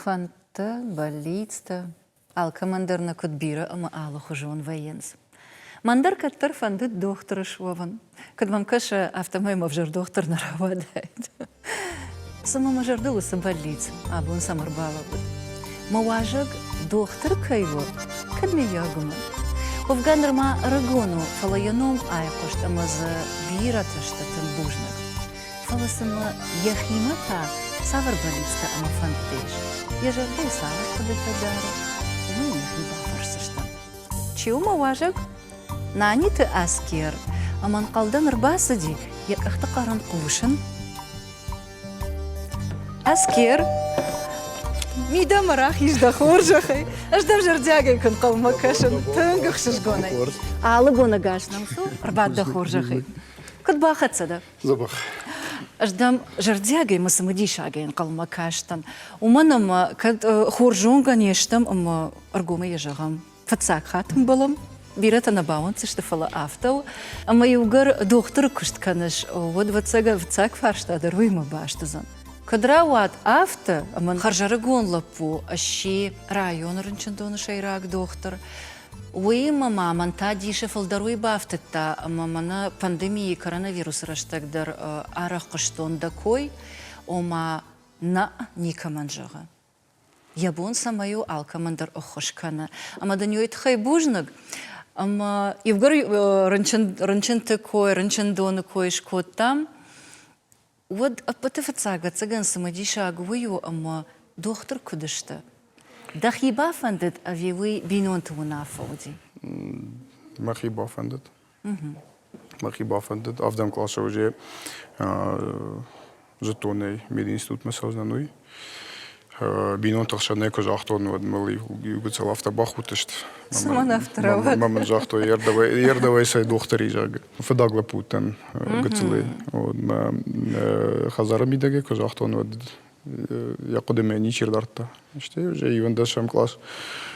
Фӕндтӕ, бӕллицтӕ алкӕмӕн дӕр нӕ куыд бирӕ ӕмӕ алыхуызон вӕййынц. Мӕн дӕр кӕддӕр фӕндыд дохтыры суӕвын. Куыд мӕм кӕсы, афтӕмӕй мӕ ӕвзӕр дохтыр нӕ рауадаид. Цымӕ мӕ зӕрдыл уыцы бӕллиц абон цӕм ӕрбалӕууыд? Мӕ уазӕг дохтыр кӕй у, кӕд, мыййаг, уымӕн? Уӕвгӕ нырма ӕрыгон у, фӕлӕ йӕ ном айхъуыст ӕмӕ дзы бирӕтӕ сты тынг бузныг. фӕлӕ цымӕ йӕхимӕ та цавӕр бӕллицтӕ ӕмӕ фӕндтӕ ис, йӕ зӕрдӕйы цавӕр хъуыдытӕ дары, уымӕй нӕхи бафӕрсдзыстӕм. Чи у мӕ уазӕг? Наниты Аскер ӕмӕ ӕнхъӕлдӕн ӕрбацыди йӕ къӕхты хъӕрӕн хъусын. Аскер, мидӕмӕ рахиз дӕ хорзӕхӕй. Ӕз дӕм зӕрдиагӕй куы нхъӕлмӕ кӕсын, тынг ӕхсызгонӕй. Алы бонӕгас нӕм цу, ӕрбад дӕ хорзӕхӕй. Куыд бахӕццӕ дӕ? Дзӕбӕх. Ӕз дӕм зӕрдиагӕй мӕ цымыдисагӕй ӕнхъӕлмӕ кастӕн. Уымӕн ӕмӕ кӕд хорз зонгӕ не стӕм ӕмӕ ӕргомӕй йӕ зӕгъӕм, фыццаг хатт ӕмбӕлӕм, бирӕтӕ нӕ бауӕнддзысты, фӕлӕ афтӕ у, ӕмӕ иугӕр дохтыры куыст кӕныс, уӕд ӕвӕццӕг фарста дӕр уыимӕ баст уыдзӕн. Куыд рауад афтӕ, ӕмӕ хӕрзӕрыгон лӕппу сси районы рынчындоны сӕйраг дохтыр, Уыимӕ ма мӕн та дисы фылдӕр уый бафтыдта, ӕмӕ мӕнӕ пандемийы коронавирусы рӕстӕг дӕр арӕх хъуыстон дӕ кой, ома нӕ никӕмӕн зӕгъы. Йӕ бон цӕмӕй у алкӕмӕн дӕр ӕххуыс кӕны, ӕмӕ дын уый тыххӕй бузныг. Ӕмӕ иугӕр рынчын рынчынты кой, рынчындоны кой скодтам, Уӕд ӕппӕты фыццаг ӕцӕгӕн цымыдисаг уый у, ӕмӕ дохтыр куыд сты? Дӕхи бафӕндыд ӕви уый бинонты уынаффӕ уыди? Мӕхи бафӕндыд. Мӕхи бафӕндыд. Авдӕн къласы уызе зыдтонӕй мединститутмӕ цӕудзынӕн, уый. бинонты хсӕн нӕ куы загътон, уӕд мыл иу гыццыл афтӕ бахудтысты. Цымӕн ӕфтарӕвӕд. Мамӕ мын загътой, йе рдӕбӕй, йе рдӕбӕй сӕ дохтыри, зӕгъы. Фыдаг лӕппутӕн гыццылӕй. Хӕдзары мидӕгӕй куы загътон, уӕд йӕ хъуыдымӕ ничи ӕрдардта. Стӕй уже ивӕндӕсӕм класс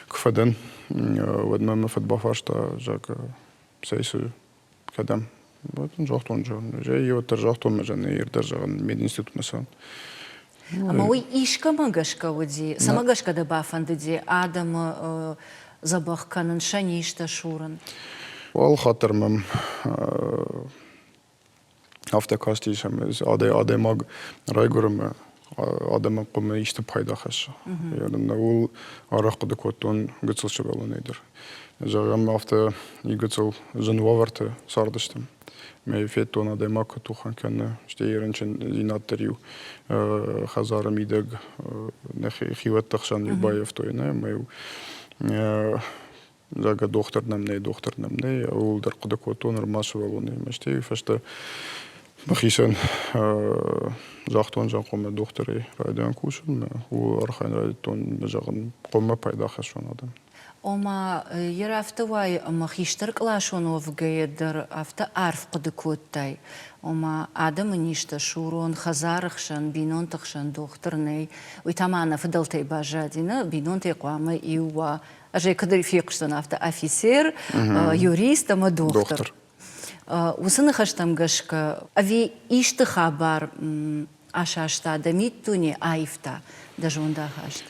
куы фӕдӕн, уӕд мӕ мӕ фыд бафарста, зӕгъы, цӕй цы кӕдӕм? Вот он загътон зӕгъын. Жай уӕддӕр загътон мӕ зӕгъын ирдӕр зӕгъын мединститутмӕ сӕ. Ӕмӕ уый искӕмӕ гӕсгӕ уыди, цӕмӕ гӕсгӕ дӕ бафӕндыди адӕмы дзӕбӕх кӕнын, сӕ низтӕ сурын? Алы хатт дӕр мӕм Афтӕ кастис ӕмӕ адӕймаг райгуыры адӕмы къуымы исты пайда хӕссы. Ууыл арӕх хъуыды кодтон гыццыл сывӕллонӕй дӕр. Зӕгъӕм, афтӕ гыццыл зын уавӕрты цардыстӕм. Мӕ федтон адӕймаг куы тухӕн кӕны, стӕй йӕ рынчындзинад дӕр-иу хӕдзары мидӕг нӕ хиуӕтты хсӕн-иу баййӕфтой, нӕ ӕмӕ-иу зӕгъгӕ дохтыр нӕм нӕй дохтыр нӕм нӕй ууыл дӕр хъуыды кодтон нырма сывӕллонӕй стӕй фӕстӕ мӕхицӕн загътон зӕнхъомӕ дохтырӕй райдайын кусынмӕ ууыл архайын райдыдтон зӕгъын хъоммӕ пайда хӕссон адӕм ома йӕ рафты уайы ӕмӕ хистӕркъласон уӕвгӕйӕ дӕр афтӕ арф хъуыды кодтай ома адӕмы низтӕ сурон хӕдзары хсӕн бинонты хсӕн дохтыр нӕй уый та ма нӕ фыдӕлтӕй баззади нӕ бинонтӕй хъуамӕ иу уа Ӕз ӕй куыд фехъуысдзӕн афтӕ афицер, юрист ӕмӕ дохтыр. Уыцы ныхӕстӕм гӕсгӕ ӕви исты хабар асаста дӕ миддуне, аивта дӕ зондахаст?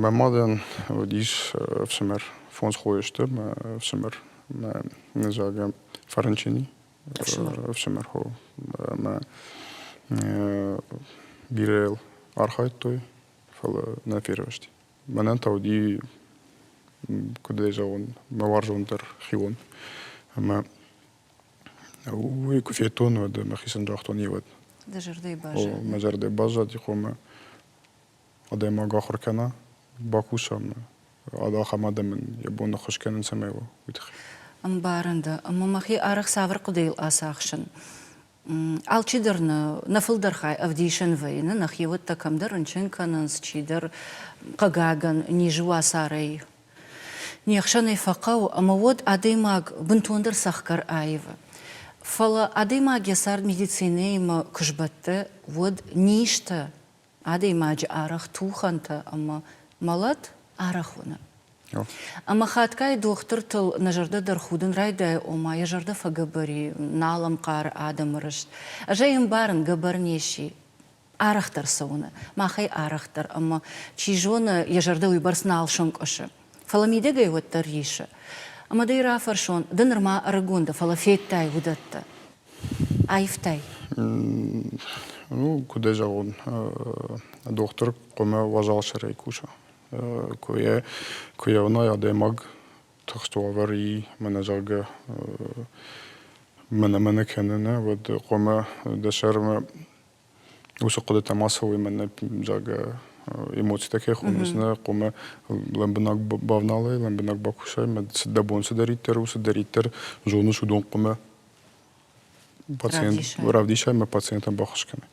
Мӕ мадӕн уыдис ӕфсымӕр, фондз хойы сты мӕ ӕфсымӕр, мӕ ныдзагӕ Фӕрынчыни ӕфсымӕр хо ӕмӕ бирӕ йыл архайдтой фӕлӕ нӕ фервӕзти. Мӕнӕн та уыди, куыд ӕй зӕгъон, мӕ уарзондӕр хион. Ӕмӕ уый куы федтон, уӕд мӕхицӕн загътон йевӕд. Дӕ зӕрдӕйы баззад? О, мӕ зӕрдӕ баззади, хъомӕ адӕймаг ахуыр кӕна, бакуса ӕмӕ ахӕм адӕмӕн йӕ бон ӕххуыс кӕнын цӕмӕй уа, уый тыххӕй. Ӕмбарын дӕ, ӕмӕ мӕхи арӕх цавӕр хъуыдыйыл ацахсын Алчидӕр нӕ фылдӕр хай ӕвдисын вӕййы, нӕ хиуӕттӕ кӕмдӕр рынчын кӕнынц, чидӕр, хъыгагӕн, низы уацарӕй не хсӕнӕй фӕхъӕуы, ӕмӕ уӕд адӕймаг бынтондӕр цӕхгӕр аивы. Фӕлӕ адӕймаг йӕ цард медицинӕимӕ куы сбӕтты, уӕд низтӕ Адӕймаджы арӕх тухӕнтӕ ӕмӕ мӕлӕт арӕх уыны. Ӕмӕ хатгай дохтыртыл нӕ зӕрдӕ дӕр худын райдайы, ома йӕ зӕрдӕ фӕгӕбӕр и, нал ӕнхъары адӕмы рыст. Ӕз ӕй ӕмбарын, гӕбӕр не сси. Арӕхдӕр цы уыны, мах ӕй арӕхдӕр ӕмӕ, чи зоны, йӕ зӕрдӕ уыйбӕрц нал сӕнкъуысы. Фӕлӕ мидӕгӕй уӕддӕр рисы. Ӕмӕ дӕ рафӕрсон, ды нырма ӕрыгон дӕ, фӕлӕ федтай уыдӕттӕ. Аивтай? Ну, куыд ӕй зӕгъон, дохтыр хъуамӕ уазал сӕрӕй куса. Куы йӕ, куы йӕ уынай адӕймаг тыхст уавӕр и мӕнӕзӕгъгӕ мӕнӕ-мӕнӕ кӕны нӕ, уӕд хъуамӕ дӕ сӕрмӕ уыцы хъуыдытӕм ацӕуыимӕ нӕ зӕгъгӕ эмоцитӕ кӕй хонынц нӕ хъуымӕ лӕмбынӕг бавналай лӕмбынӕг бакусай мӕ дӕ бон цыдӕриддӕр у цыдӕриддӕр зоныс уыдон хъуымӕ пациент равдисай ӕмӕ пациентӕн баххуыс кӕнай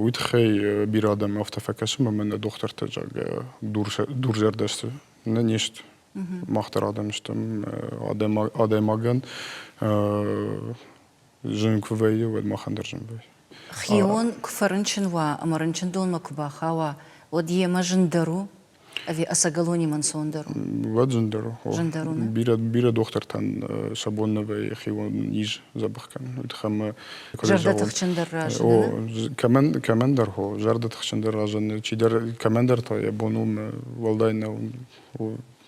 уый тыххӕй бирӕ адӕм афтӕ фӕкӕсы ӕмӕ нӕ дохтыртӕ зӕгъгӕ дурзӕрдӕ сты нӕ не сты мах дӕр адӕм стӕм адӕймагӕн Зын куы вӕййы, уӕд махӕн дӕр зын вӕййы. Хион куы фӕрынчын уа ӕмӕ рынчындонмӕ куы бахауа, уӕд йемӕ зындӕр у? Ӕви ӕцӕгӕлонимӕ ӕнцондӕр у? Уӕд зындӕр у. Зындӕр у, нӕ? Бирӕ, бирӕ дохтыртӕн сӕ бон нӕ вӕййы хион низ дзӕбӕх кӕнын. Уый тыххӕй мӕ куыд зӕгъон? Зӕрдӕтыхджындӕр разыны? О, кӕмӕн, кӕмӕндӕр хо, зӕрдӕтыхджындӕр разыны. Чидӕр, кӕмӕндӕр та йӕ бон у уӕлдай нӕу.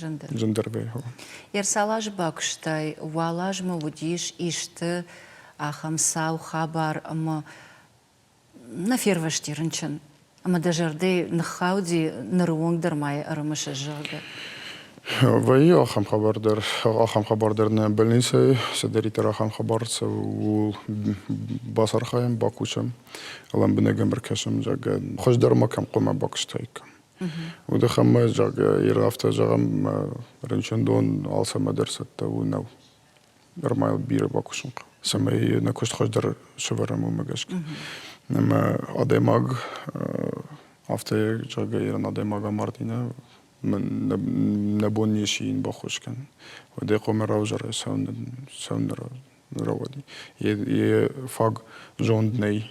Зындӕр. Зындӕргай хъӕуы. Ерсал азы бакуыстай, уал азмӕ уыдис исты ахӕм сау хабар ӕмӕ нӕ фервӕзти рынчын, ӕмӕ дӕ зӕрдӕ ныххауди ныры онг дӕр ма йӕ ӕрымысыс, зӕгъгӕ. Вӕййы ахӕм хабар дӕр, ахӕм хабар дӕр нӕ больницӕйы, цыдӕриддӕр ахӕм хабар цӕуы, ууыл бацархайӕм, бакусӕм, лӕмбынӕг ӕм ӕркӕсӕм, зӕгъгӕ, хуыздӕр ма кӕм хъуамӕ бакуыстаиккам. Удыхъӕдмӕ, йе афтӕ зӕгъӕм, рынчындон алцӕмӕ дӕр цӕттӕ у нӕу. Нормал бирӕ бакусын хъӕуы, цӕмӕй нӕ куыст хуыздӕр сӕвӕрӕм, уымӕ гӕсгӕ. Ӕмӕ адӕймаг афтӕ зӕгъгӕ ирон адӕймаг амарди нӕ нӕ бон не сси йын баххуыс кӕнын. Уӕдӕй хъуамӕ равзара сӕ сӕ рауади. Е фаг зонд нӕй.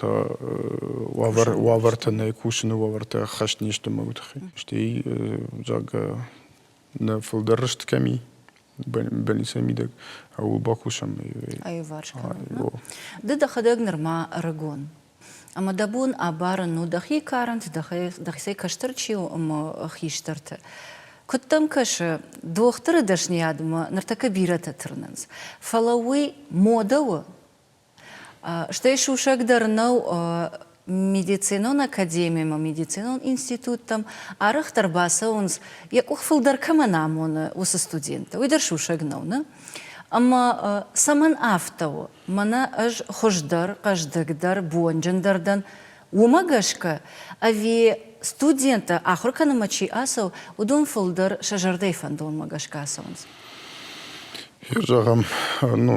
Та уавӕр, уавӕртӕ нӕ кусыны уавӕртӕ ӕххӕст не сты мӕгуыр тыххӕй. Стӕй зӕгъгӕ нӕ фылдӕр рыст кӕм и, больницӕ мидӕг, ууыл бакусӕм. Аиварс кӕнӕм. Ды дӕхӕдӕг нырма ӕрыгон Ӕмӕ дӕ бон абарын у дӕхи карӕнты, дӕхицӕй кӕстӕр чи у ӕмӕ хистӕрты. Куыд дӕм кӕсы, дохтыры дӕсныйадмӕ ныртӕккӕ бирӕтӕ тырнынц, фӕлӕ уый модӕ у? Стӕй сусӕг дӕр нӕу медицинон академимӕ, медицинон институттӕм арӕхдӕр бацӕуынц, йӕ къух фылдӕр кӕмӕн амоны, уыцы студенттӕ. Уый дӕр сусӕг нӕу, нӕ? Ӕмӕ цӕмӕн афтӕ у? Мӕнӕ ӕз хуыздӕр, хъӕздыгдӕр, бонджындӕр дӕн, уымӕ гӕсгӕ ӕви студенттӕ ахуыр кӕнынмӕ чи ацӕуы, уыдон фылдӕр сӕ зӕрдӕйы фӕндонмӕ гӕсгӕ ацӕуынц? Хир зӕгъӕм, ну,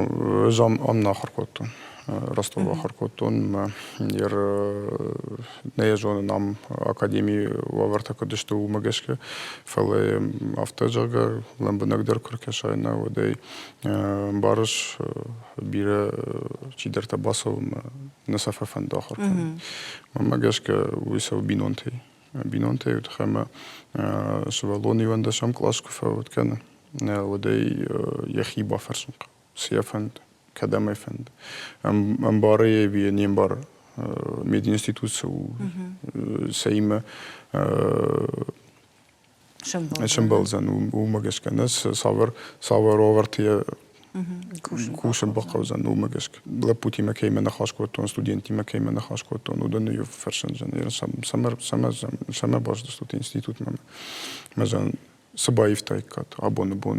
ӕз аннӕ ахуыр кодтон. Ростов ахуыр кодтон мӕ нӕ зонын ам академийы уавӕртӕ куыд сты уымӕ гӕсгӕ, фӕлӕ афтӕ зӕгъгӕ лӕмбынӕгдӕр куы ркӕсай нӕ уӕдӕй Ӕмбарыс бирӕ чидӕртӕ бацӕуынмӕ нӕ сӕ фӕфӕнды ахуыр кӕнын. Мӕнмӕ гӕсгӕ уый цӕуы бинонтӕй. Бинонтӕй у тыххӕй ӕмӕ сывӕллон иуӕндӕсӕм класс куы фӕуӕд кӕнӕ, уӕд ӕй йӕхи бафӕрсын хъӕуы, цы йӕ фӕнды, кӕдӕм ӕй фӕнды. Ӕмбары йӕ ӕви не мбары мединститут цы у, цӕимӕ Сӕмбӕлдзӕн уымӕ гӕсгӕ нӕ цавӕр цавӕр уавӕрты кусын бахъӕудзӕн уымӕ гӕсгӕ лӕппутимӕ кӕимӕ ныхас кодтон студенттимӕ кӕимӕ ныхас кодтон уыдоны иу фӕрсын самӕ бӕздзыстут институтмӕ мӕ цы баивтаиккат абоны бон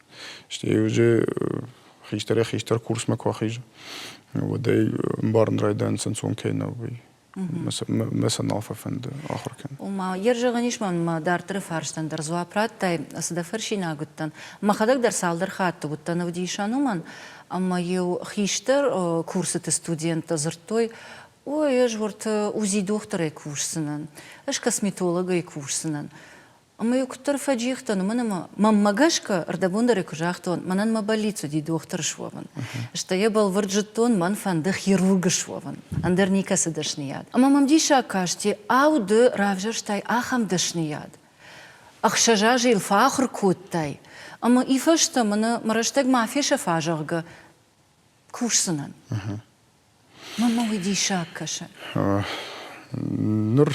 Стӕй уыди хистӕрӕй-хистӕр курсмӕ куы ахизы, уӕдӕй ӕмбарын райдайын ӕнцон кӕй нӕу, уый. Мӕ сӕ нал фӕфӕнды ахуыр кӕнын. Ома, йӕ зӕгъӕн ис мӕ дарддӕры фарстӕн дӕр дзуапп радтай, цы дӕ фӕрсинаг уыдтӕн. Мӕхӕдӕг дӕр цалдӕр хатты уыдтӕн ӕвдисӕн уымӕн, ӕмӕ-иу хистӕр курсыты студенттӕ дзырдтой, Ой, ӕз уырты УЗИ дохтырӕй кусдзынӕн, ӕз косметологӕй кусдзынӕн. Ӕмӕ-иу куыддӕр фӕджихтӕн, уымӕн ӕмӕ мӕнмӕ гӕсгӕ ӕрдӕбондӕрӕй куы загътон, мӕнӕн мӕ бӕллиц уыди дохтыры суӕвын. Стӕй йӕ бӕлвырд зыдтон, мӕн фӕнды хирургы суӕвын, ӕндӕр никӕцы дӕсныйад. Ӕмӕ мӕм диссаг касти, ау, ды равзӕрстай ахӕм дӕсныйад? Ӕхсӕз азы йыл фӕахуыр кодтай, ӕмӕ уый фӕстӕ мын мӕ рӕстӕг ма фесӕфа, зӕгъгӕ, кусдзынӕн. Мӕн мӕ уый диссаг кӕсы. Ныр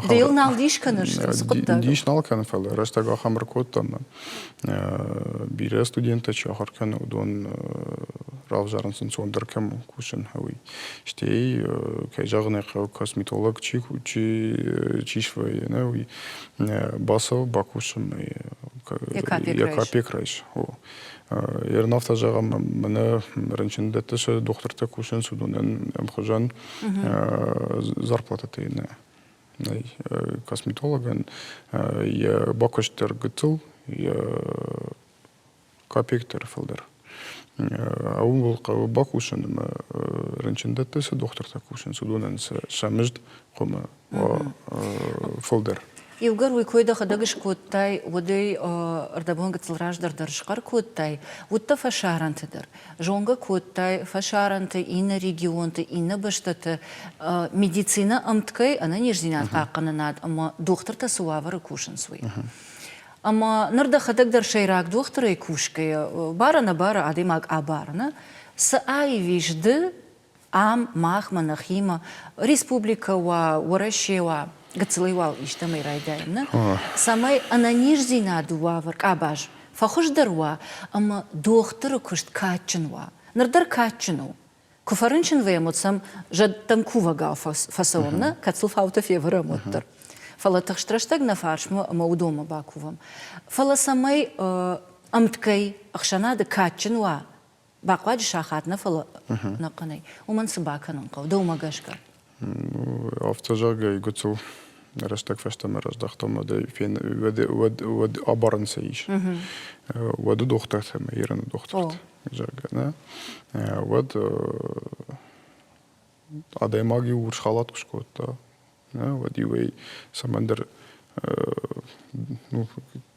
Ды йыл нал дис кӕныс цы хъуыддаг? Дис нал кӕн, фӕлӕ рӕстӕг ахӕм ӕркодтам, бирӕ студенттӕ чи ахуыр кӕны, уыдон равзарынц ӕнцондӕр кӕм кусын, уый. Стӕй, кӕй зӕгъын ӕй хъӕуы, косметолог чи чи чи свӕййы, нӕ уый бацӕуы, бакусы, ӕй Экопек райс. Ернов та зӕгъӕм, мӕнӕ рынчындӕтты сӕ дохтыртӕ кусынц уыдонӕн ӕмхуызӕн зарплатӕ нӕ нӕй косметологӕн йӕ бакуыст дӕр гыццыл, йӕ копейк дӕр фылдӕр. Уым был хъӕуы бакусын ӕмӕ рынчындӕтты цы дохтыртӕ кусынц, уыдонӕн сӕ мызд хуымы фылдӕр. Иугӕр уый кой дӕхӕдӕг скодтай, уӕдӕй ӕрдӕбон гыццыл раздӕр дӕр схъӕр кодтай, уыдтӕ фӕсарӕнты дӕр. Зонгӕ кодтай фӕсарӕнты, иннӕ регионты, иннӕ бӕстӕты медицинӕ ӕмткӕй ӕнӕниздзинад хъахъхъӕнынад ӕмӕ дохтыртӕ цы уавӕры кусынц, уый. Ӕмӕ ныр дӕхӕдӕг дӕр сӕйраг дохтырӕй кусгӕйӕ, бары-нӕбары адӕймаг абарыны цы аивис ды, ам махмӕ нӕхимӕ республикӕ уа, Уӕрӕсе уа, гыццылӕй уал истӕмӕй райдайӕм, нӕ? Цӕмӕй ӕнӕниздзинады уавӕр къабаз фӕхуыздӕр уа ӕмӕ дохтыры куыст кадджын уа. Ныр дӕр кадджын у. Куы фӕрынчын вӕйӕм, уӕд сӕм зӕдтӕм кувӕгау фӕцӕуӕм, нӕ? Кӕцыл фаутӕ февӕрӕм, уӕддӕр. Фӕлӕ тыхстрӕстӕг нӕ фарсмӕ ӕмӕ уыдонмӕ бакувӕм. Фӕлӕ цӕмӕй ӕмткӕй ӕхсӕнады кадджын уа бахъуаджы сахат нӕ фӕлӕ нӕ хъӕнӕй уымӕн цы бакӕнын хъӕуы дӕумӕ гӕсгӕ автозагӕй гуцул рӕстӕг фӕстӕмӕ раздӕхтам мадӕй уӕд уӕд уӕд абарӕн сӕ ис уӕды дохтыртӕ мӕ ираны дохтырт зӕгъгӕ нӕ уӕд адӕймаг иу урс халат куы скодта нӕ уӕд иуӕй цӕмӕндӕр ну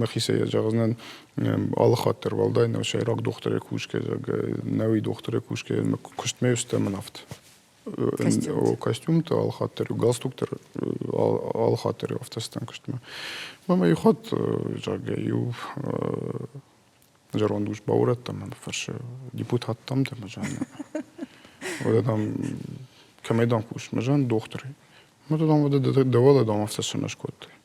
мӕхицӕй зӕгъдзынӕн алыхатдӕр уӕлдай нӕу сӕйраг дохтырӕй кусгӕ нӕуи дохтырӕй кусгӕ куыстмӕ стӕмынавт костюмты алыхатдӕр у галстуктӕр алыхатдӕр афтӕстан куыстмӕ ӕмӕ иу хатт зӕгъгӕ иу зӕронд ус баурӕдтам мӕ фӕрсы депутаттам дӕ мӕ зӕн уӕдӕ дам кӕмӕй дам кус мӕ зӕн дохтырӕй мӕ дам уӕдӕ дӕ уӕлӕ дам афтӕ сынӕ скодтай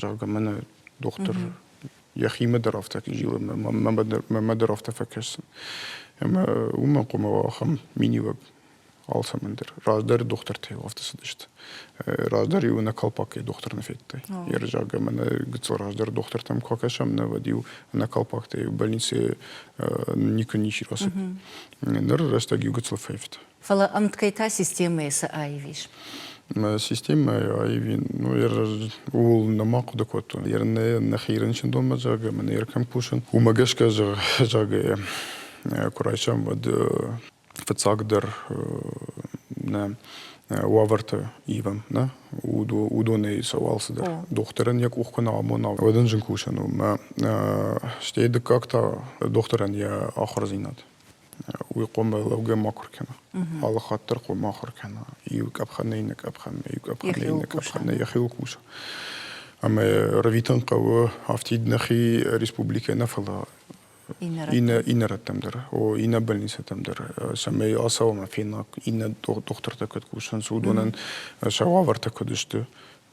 зӕгъгӕ мӕнӕ дохтыр йӕхимӕ дӕр афтӕ кӕй зилы мӕмӕ дӕр афтӕ фӕкӕсын ӕмӕ уымӕн хъуамӕ уа ахӕм миниуӕг алцӕмӕн дӕр раздӕр дохтыртӕй афтӕ цыдысты раздӕр-иу нӕ колпакӕй дохтыр нӕ федтай ерызаг ӕмӕ нӕ гыццыл раздӕр дохтыртӕм куы акӕсӕм нӕ уӕд-иу нӕ колпактӕй больницӕйы никуы ничи рацыд ныр рӕстӕг-иу гыццыл фӕивта Фӕлӕ ӕмткӕй та системӕйы цы аив ис? Системӕйы аив ин, ну, ер ууыл нӕма хъуыды кодтон. Ер нӕ нӕхи рынчындонмӕ зӕгъгӕ, мӕ нӕ кӕм кусын, уымӕ гӕсгӕ зӕгъгӕ, куы райсӕм, уӕд фыццагдӕр нӕ уавӕрты ивӕм, нӕ уыдонӕй сӕ алцыдӕр. Дохтырӕн йӕ къух куы нӕ амона, уӕд ын зын кусын у. Мӕ стӕй дыккаг та дохтырӕн йӕ ахуырдзинад. уый къуымы лӕугӕ ма куы ркӕна алы хатт дӕр къуым ма ахуыр кӕна иу къӕпхӕны иннӕ къӕпхӕнмӕ иу къӕпхӕны иннӕ къӕпхӕнмӕ йӕхиуыл куса ӕмӕ рӕвитын хъӕуы афтид нӕхи республикӕ нӕ фӕлӕ иннӕ иннӕ рӕттӕм дӕр о иннӕ больницӕтӕм дӕр цӕмӕй ацӕуӕм фенӕ иннӕ дохтыртӕ куыд кусынц уыдонӕн сӕ уавӕртӕ куыд сты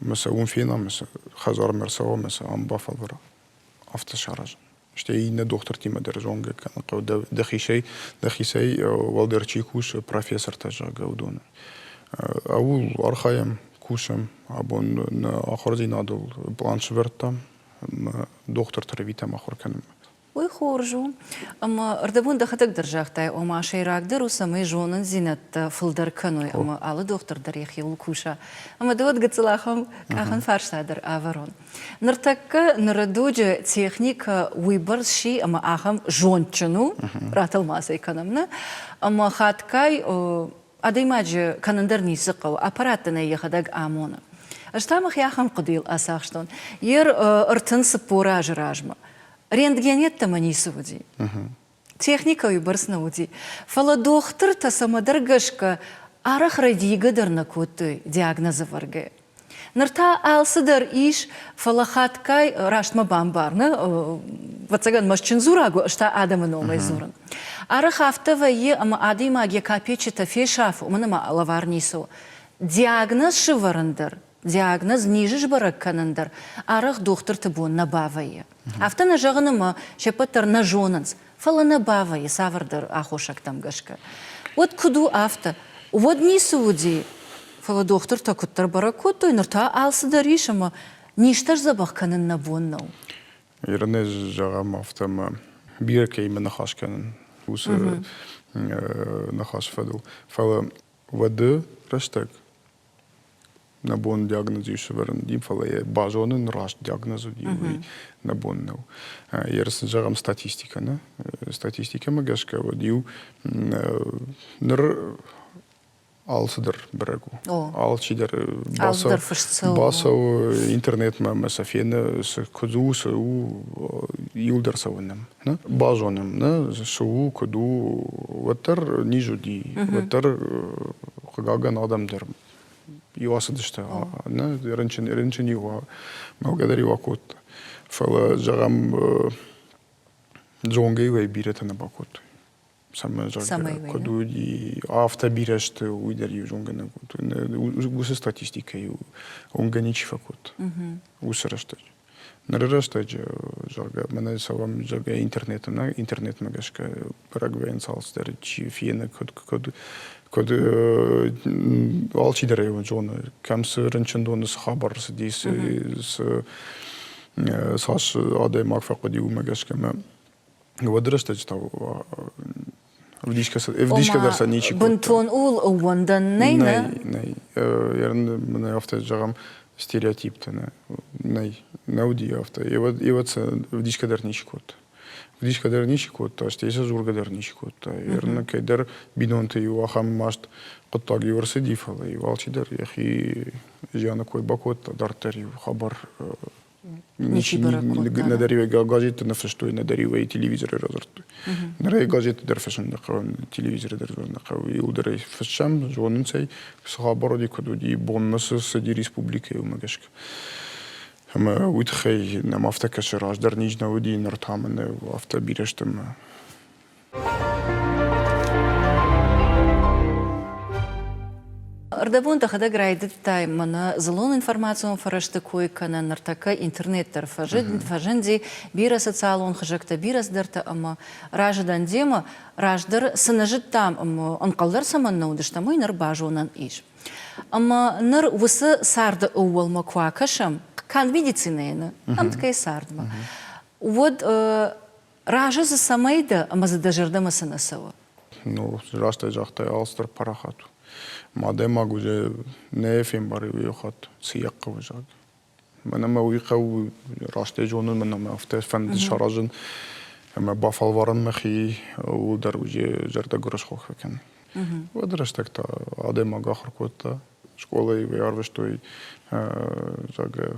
мы сӕ уым фенӕм мы сӕ хӕдзармӕ ӕрцӕуӕм мы сӕ ам бафӕлвара афтӕ саразын Стӕй иннӕ дохтыртимӕ дӕр зонгӕ кӕнын хъӕуы, дӕхицӕй дӕхицӕй уӕлдӕр чи кусы, профессортӕ, зӕгъгӕ, уыдоны. Ууыл архайӕм, кусӕм, абон нӕ ахуырдзинадыл план сывӕрдтам ӕмӕ дохтырты рвитӕм ахуыр кӕнынмӕ. Уый хорз у, ӕмӕ ӕрдӕбон дӕхӕдӕг дӕр загътай, ома сӕйрагдӕр у, цӕмӕй зонындзинӕдтӕ фылдӕр кӕной ӕмӕ алы дохтыр дӕр йӕхиуыл куса. Ӕмӕ дӕ уӕд гыццыл ахӕм къахӕн фарста дӕр ӕвӕрон. Ныртӕккӕ ныры дуджы техникӕ уыйбӕрц си ӕмӕ ахӕм зондджын у, ратӕлмацӕй кӕнӕм нӕ, ӕмӕ хатгай адӕймаджы кӕнын дӕр ницы хъӕуы, аппарат дын ӕй йӕхӕдӕг амоны. Ӕз та мӕхи ахӕм хъуыдыйыл ацахстон, йе ртын цыппор азы размӕ рентген йеддӕмӕ ницы уыди. техникӕйы бӕрц нӕ уыди, фӕлӕ дохтыртӕ цӕмӕдӕр гӕсгӕ арӕх рӕдийгӕ дӕр нӕ кодтой диагнозы вӕргӕ. Ныр та алцыдӕр ис, фӕлӕ хатгай растмӕ бамбарны, ӕвӕццӕгӕн мӕстджын дзурӕг у, ӕз та адӕмы номӕй дзурын. Арӕх афтӕ вӕййы, ӕмӕ адӕймаг йӕ капеччытӕ фесафы, уымӕн ӕмӕ лӕвар ницы у. Диагноз сывӕрын дӕр Диагноз низы сбӕрӕг кӕнын дӕр арӕх дохтырты бон нӕ бавӕййы. Афтӕ нӕ зӕгъыны мӕ се ппӕт дӕр нӕ зонынц, фӕлӕ нӕ бавӕййы цавӕрдӕр аххосӕгтӕм гӕсгӕ. Уӕд куыд у афтӕ? Уӕд ницы уыди, фӕлӕ дохтыртӕ куыддӕр бӕрӕг кодтой, ныр та алцыдӕр ис ӕмӕ низтӕ сдзӕбӕх кӕнын нӕ бон нӕу. Иронез зӕгъӕм афтӕ, ӕмӕ бирӕ кӕимӕ ныхас кӕнын, уыцы ныхасы фӕдыл. Фӕлӕ уӕды рӕстӕг Нӕ бон диагнози сӕвӕрын уыди, фӕлӕ йӕ базонын раст диагноз уыди, уый нӕ бон нӕу. Ерыс сын зӕгъӕм статистикӕ нӕ. Статистикӕмӕ гӕсгӕ уӕд-иу ныр алцыдӕр бӕрӕг у. Алчидӕр бацӕуы интернетмӕ ӕмӕ сӕ фены, цы куыдз у, цы у, иуыл дӕр цӕуы нӕм. базонӕм, нӕ цы у, куыд у, уӕддӕр низ уыди, уӕддӕр хъыгагӕн адӕм дӕр иу ацыдысты, нӕ рынчын рынчын-иу мӕлгӕ дӕр-иу акодта. Фӕлӕ, зӕгъӕм, зонгӕ-иу ӕй бирӕтӕ нӕ бакодтой. цӕмӕй куыд уыди афтӕ бирӕ сты уый дӕр иу зонгӕнӕг уыд уыцы статистикӕйы уынгӕ ничи фӕкодта уыцы рӕстӕджы ныры рӕстӕджы зӕгъгӕ мӕнӕ цӕуӕм зӕгъгӕ интернетмӕ интернетмӕ гӕсгӕ парагвайӕн цалцдӕр чи фены куыд куыд куыд алчидӕр ӕй зоны кӕм цы рынчындоны цы хабар рцыди цы цас адӕймаг фӕхъуыди уымӕ гӕсгӕ мӕ уӕды рӕстӕджы та ӕвдисгӕ ӕвдисгӕ дӕр сӕ ничи бынтон ууыл ӕууӕндӕн нӕй нӕй нӕй ерын мын афтӕ зӕгъӕм стереотиптӕ нӕ нӕй нӕ уыди афтӕ еуӕд сӕ ӕвдисгӕ дӕр ничи кодта ӕвдисгӕ дӕр ничи кодта стӕй сӕ дзургӕ дӕр ничи кодта ерын кӕйдӕр бинонты иу ахӕм маст хъуыддаг иу ӕрцыди фӕлӕ иу алчидӕр йӕхи зианы кой бакодта дарддӕр иу хабар Нӕдӕр ӕй газеттӕ нӕ фыстой, нӕдӕр ӕй телевизорӕй радзырдтой. Ныр ӕй газетты дӕр фыссын нӕ хъӕуы, телевизорӕй дӕр фыссын нӕ хъӕуы. Иуыл дӕр ӕй фыссӕм, зонынц ӕй, цы хабаради куыд уыди, бонмӕ цы цыди республикӕйы, уымӕ гӕсгӕ. Ӕмӕ уый тыххӕй нӕм афтӕ кӕсы, раздӕр низ нӕ уыди, ныр та мӕ нӕ афтӕ бирӕ сты ӕмӕ Ӕрдӕбон дӕхӕдӕг райдыдтай мӕнӕ дзылон-информацион фӕрӕзты кой кӕнын, ныртӕккӕ интернет дӕр фӕзынди, бирӕ социалон хызӕгтӕ, бирӕ цыдӕртӕ ӕмӕ разы дӕн демӕ. Раздӕр цы нӕ зыдтам ӕмӕ ӕнхъӕлдӕр цӕмӕн нӕ уыдыстӕм, уый ныр базонӕн ис. Ӕмӕ ныр уыцы царды ӕууӕлмӕ куы акӕсӕм, канд медицинӕйӕн ӕмткӕй цардмӕ, уӕд Разы дзы цӕмӕй дӕ ӕмӕ дзы дӕ зӕрдӕмӕ цы нӕ цӕуы? Ну, растӕй загътай, алцыдӕр парахат у. Ма адӕймаг уызӕ нӕ фембарай уый хатт, цы йӕ хъӕуы, зӕгъ. Мӕнӕ мӕ уый хъӕуы растӕй зонын, мӕнӕ мӕ афтӕ фӕнды саразын, ӕмӕ бафӕлварын мӕхи, ууыл дӕр уызӕ зӕрдӕ гуырысхо фӕкӕн. Уӕды рӕстӕг та адӕймаг ахуыр кодта, скъолайы ӕрвыстой, зӕгъгӕ,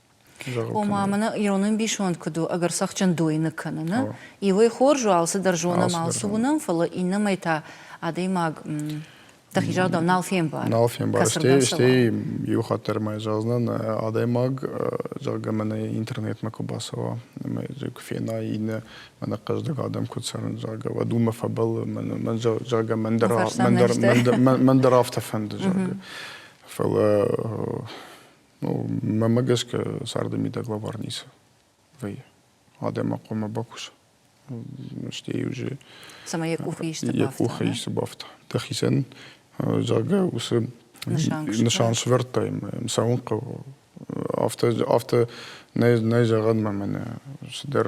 Ома, мӕнӕ ирон ӕмбисонд куыд у, ӕгӕр цӕхджын дойны кӕны, нӕ? Иуӕй хорз у, алцыдӕр зонӕм, алцы уынӕм, фӕлӕ иннӕмӕй та адӕймаг дӕхи загъдау нал фембары. Нал фембары. Стӕй, стӕй иу хатт дӕр ма зӕгъдзынӕн, адӕймаг, зӕгъгӕ, мӕнӕ интернетмӕ куы бацӕуа ӕмӕ куы фенай иннӕ мӕнӕ хъӕздыг адӕм куыд цӕрын, зӕгъгӕ, уӕд уымӕ фӕбӕллы, мӕн, мӕн зӕгъгӕ, мӕн дӕр, мӕн дӕр, мӕн дӕр, мӕн дӕр афтӕ фӕнды, зӕгъгӕ. Фӕлӕ Ну, мӕмӕ гӕсгӕ царды мидӕг лӕвар ницы вӕййы. Адӕмахъомӕ бакуса. Стӕй уже цӕмӕй йӕ къухы исты бафта. Йӕ къухы исты бафта. Дӕхицӕн, зӕгъгӕ, уыцы нысан сӕвӕрдтаин цӕуын хъӕуы. Афтӕ афтӕ нӕй нӕй зӕгъӕн мӕ мӕнӕ цыдӕр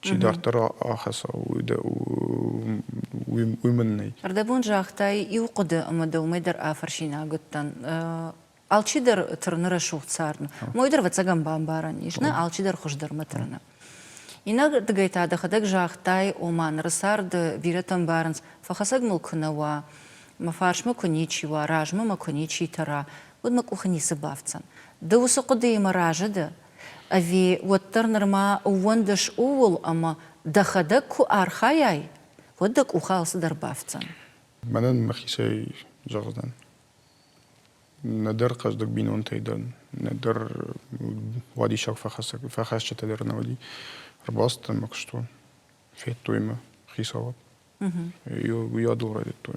Чи дарддӕр ахӕца, уый мын нӕй. Ӕрдӕбон загътай иу хъуыды ӕмӕ дӕ уымӕй дӕр афӕрсинаг уыдтӕн. Алчидӕр тырны рӕсугъд цард. Мой дӕр ӕвӕццӕгӕн бамбарӕн ис, нӕ алчидӕр хуыздӕрмӕ тырны. Иннӕрдыгӕй та дӕхӕдӕг загътай, ома ныры царды бирӕтӕ ӕмбарынц, фӕхӕцӕг мыл куы нӕ уа, мӕ фарсмӕ куы ничи уа, размӕ мӕ куы ничи тӕра, уӕд мӕ къухы ницы бафтдзӕн. Ды уыцы хъуыдыимӕ разы дӕ, Ӕви уӕддӕр нырма ууӕндыс ууыл ӕмӕ дӕхӕдӕг куы архайай, уӕд дӕ къухы алцыдӕр бафтдзӕн? Мӕнӕн мӕхицӕй зӕгъдӕн, нӕдӕр хъӕздыг бинонтӕй дӕр, нӕдӕр уадиссаг фӕхӕсджытӕ дӕр нӕ уыди. Ӕрбалцыдтӕн мӕ куыстон, федтой мӕ хицауад. Уый адыл райдыдтой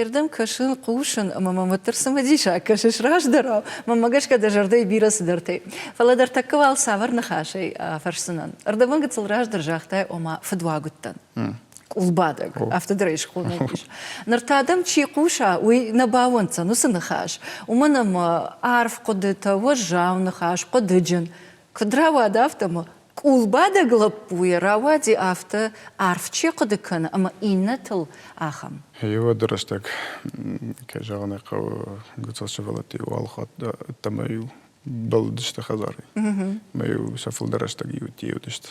Ирдӕм кӕсын, хъусын, ӕмӕ мӕм уӕддӕр цымыдисаг кӕсыс раздӕрау. Мӕнмӕ гӕсгӕ дӕ зӕрдӕйы бирӕ цыдӕртӕй. Фӕлӕ дӕ ртӕккӕ уал цавӕр ныхасӕй фӕрсдзынӕн? ӕрдӕбын гыццыл раздӕр загътай, ома фыдуаг уыдтӕн. Къулбадӕг, афтӕ дырӕй схонӕг ис. Ныр та дӕм чи хъуса, уый нӕ бауӕнддзӕн уыцы ныхас, уымӕн ӕмӕ арф хъуыдытӕ, уӕззау ныхас, хъуыдыджын, Куыд рауад афтӕмӕ, къулбадӕг лӕппуйӕ рауади афтӕ арф чи хъуыды кӕны ӕмӕ иннӕтыл, ахӕм. Йеуӕды рӕстӕг, кӕй зӕгъын ӕй хъӕуы, гуыцӕл сывӕллӕтты-иу алхатт ӕддӕмӕ-иу бӕллыдысты хӕдзарӕй. Ӕмӕ-иу сӕ фылдӕр рӕстӕг иудтӕ уыдысты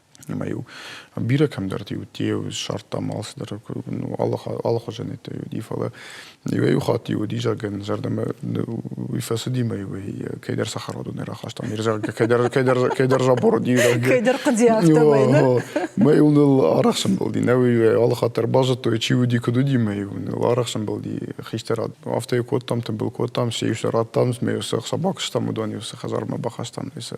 ӕмӕ-иу бирӕ кӕмдӕрты иу ссардтам алцыдӕр алыхуызӕнӕттӕ уыди фӕлӕ иуӕй-иу хатт-иу уыди зӕгъгӕ зӕрдӕмӕ уый фӕцыди мӕ уый кӕйдӕр цӕхӕрадон не рахастам зӕгъгӕ кӕйдӕр кӕйдӕр кӕйдӕр забор уыди кӕйдӕр хъуыди афтӕмӕй нӕ мӕ йыл ныл арӕх сӕмбӕлди нӕ уый алыхатт дӕр базыдтой чи уыди куыд уыди мӕ йыл ныл арӕх сӕмбӕлди хистӕрад афтӕ йыл кодтам тымбыл кодтам се иу сӕ радтам мӕ йыл цы собак стам уыдон йыл цы хӕдзармӕ бахастам сӕ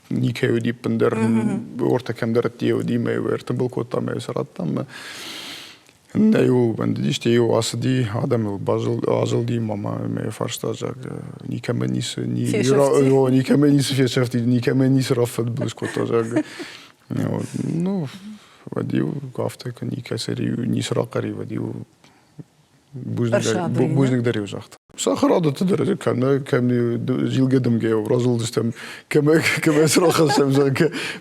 никӕй уыди ӕппындӕр, ортӕ кӕмдӕртти уыди мӕ ӕртымбыл кодта мӕ йӕ сарадта мӕ нӕ йыл бӕндыди, стӕй йыл ацыди, адӕмыл базылди мамӕ мӕ фарста, зӕгъгӕ, никӕмӕ ницы, никӕмӕ ницы фесӕфтид, никӕмӕ ницы раффӕдбылыз кодта, зӕгъгӕ. Ну, вӕд-иу афтӕ никӕцӕй ницы рахъари, вӕд-иу бузныг дӕр иу загъта сахарадӕтты дӕр кӕмӕ кӕм зилгӕ дымгӕ разылдыстӕм кӕмӕ кӕмӕ срахӕссӕм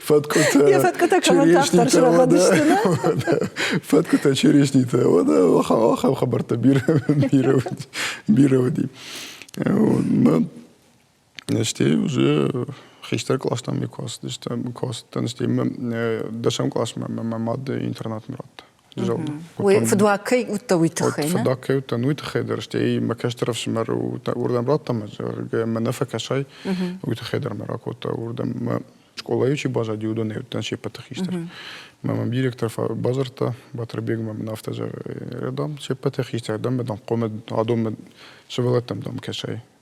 фӕткъуытӕ я фӕткъуытӕ кӕмӕн тагъддӕр срабадысты фӕткъуытӕ черешнитӕ ахӕм хабӕрттӕ бирӕ бирӕ уыди Стӕй уже хистӕр къластӕн ме куы ацыдыстӕм, куы ацыдтӕн, стӕй дӕсӕм классмӕ мӕ мад интернатмӕ радта. Уый фыдуаг кӕй уыдта, уый тыххӕй, нӕ? Фыдуаг кӕй уыдтӕн, уый тыххӕй дӕр, стӕй мӕ кӕстӕр ӕфсымӕр уырдӕм радта мӕ, зӕгъгӕ, мӕ нӕ фӕкӕсай, уый тыххӕй дӕр мӕ ракодта уырдӕм. Мӕ скъолайы чи баззади, уыдонӕй уыдтӕн се ппӕты хистӕр. Мӕ мӕм директор бадзырдта, Батырбег мӕм афтӕ зӕгъы, дам, се ппӕты хистӕр, дам, дам, хъомӕ адонмӕ сывӕллӕттӕм дам кӕсай.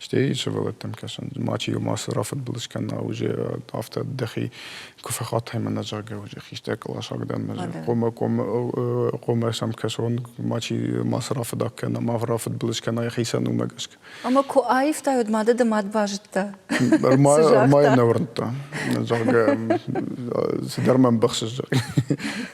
Стӕй сывӕллӕттӕм кӕсын, мачи иу мацы рафыдбыл скӕна уже афтӕ дӕхи куы фӕхатай мӕнӕ зӕгъгӕ уже хистӕр къласаг дӕн мӕ хъомӕ хъомӕ хъомӕ сӕм кӕсон мачи мацы рафыдак кӕна ма рафыдбыл скӕна йӕхицӕн уымӕ гӕсгӕ ӕмӕ куы аивтаид мады ды мад базыдта ма нӕ уырдта зӕгъгӕ цыдӕр мӕ ӕмбӕхсыс зӕгъгӕ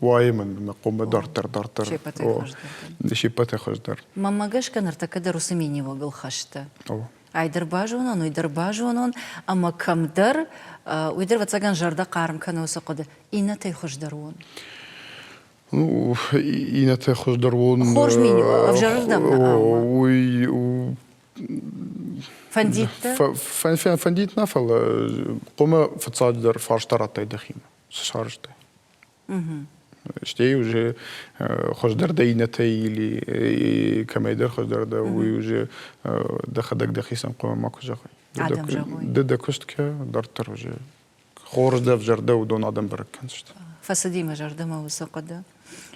Уайы мын мӕ къуымы дарддӕр, дарддӕр. Се ппӕтӕй хуыздӕр. Мӕнмӕ гӕсгӕ ныртӕккӕ дӕр уыцы миниуӕгыл хӕсты. Ай дӕр базонон, уый дӕр базонон, ӕмӕ кӕмдӕр, уый дӕр, ӕвӕццӕгӕн, зӕрдӕ хъарм кӕны уыцы хъуыды, иннӕтӕй хуыздӕр уон. Ну, иннӕтӕй хуыздӕр уон. Хорз миниуӕг, ӕвзӕрырдӕм уый Фӕндит дӕ? Фӕндит нӕ, фӕлӕ къуымы фыццаджыдӕр фарста радтай дӕхимӕ. сфӕрӕзтой. Стӕй уже хуыздӕрдӕр иннӕтӕй или кӕмӕйдӕр хуыздӕрдӕр уый уже дӕхӕдӕг дӕхицӕн хъуамӕ макуы зӕгъой. Ды дӕ куыст кӕ, дарддӕр уже хорз дӕ зӕрдӕ уыдон адӕм бӕрӕг кӕндзысты. Фӕцыди мӕ зӕрдӕмӕ уыцы хъуыды.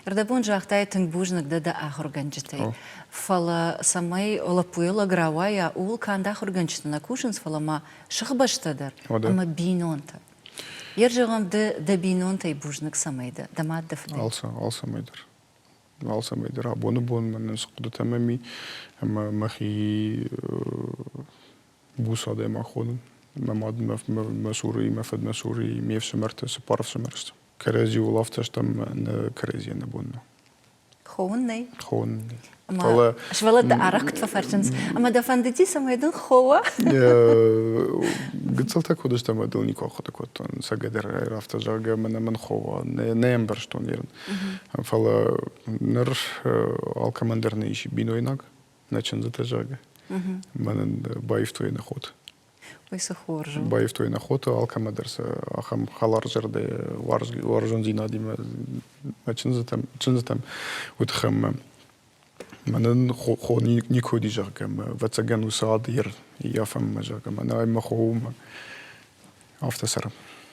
Ӕрдӕбон загътай тынг бузныг дӕ дӕ ахуыргӕнджытӕй. Фӕлӕ цӕмӕй лӕппуйӕ лӕг рауайа, ууыл канд ахуыргӕнджыты нӕ кусынц, фӕлӕ ма сыхбӕстӕ дӕр ӕмӕ бинонтӕ. Йе рзӕгъӕм ды дӕ бинонтӕй бузныг цӕмӕй дӕ, дӕ мад дӕ фыд. Алцӕмӕй дӕр. Алцӕмӕй дӕр абоны бонмӕ нын цы хъуыдытӕ ӕмӕ ми ӕмӕ мӕхи буц адӕймаг хонын. Мӕ мад, мӕ мӕ цурыйы, мӕ фыд, мӕ цурыйы, ме фсымӕртӕ, цыппар ӕфсымӕр сты. Кӕрӕдзиуыл афтӕ стӕм нӕ кӕрӕдзийӕн нӕ бон нӕу. Хоуын нӕй. Хоуын нӕй. Ӕмӕ сывӕллӕттӕ арӕхгт фӕфӕрсынц, ӕмӕ дӕ фӕндыди, цӕмӕй дын хоуа? Гыццылтӕ куы уыдысты, ӕмӕ дыл никуы ахъуыды кодтон, цӕгатӕрӕйы афтӕ, зӕгъгӕ, мӕнӕ мын хоуа. Нӕ, нӕ ӕмбӕрстон ерын. Фӕлӕ ныр алкӕмӕн дӕр нӕ ис бинойнаг, нӕ чындзытӕ, зӕгъгӕ. Мӕнӕн баивтой нӕ ход. Уый цы хорз у. Баивтой нӕ хоты алкӕмӕ дӕр сӕ ахӕм хӕларзӕрдӕ уарзондзинадимӕ мӕ чындзытӕм чындзытӕм уыдхӕммӕ мӕнӕн хо никуы уыди зӕгъгӕ ӕвӕццӕгӕн уыцы ад йе рафӕммӕ зӕгъгӕ мӕнӕ мӕ хо у афтӕ цӕрӕм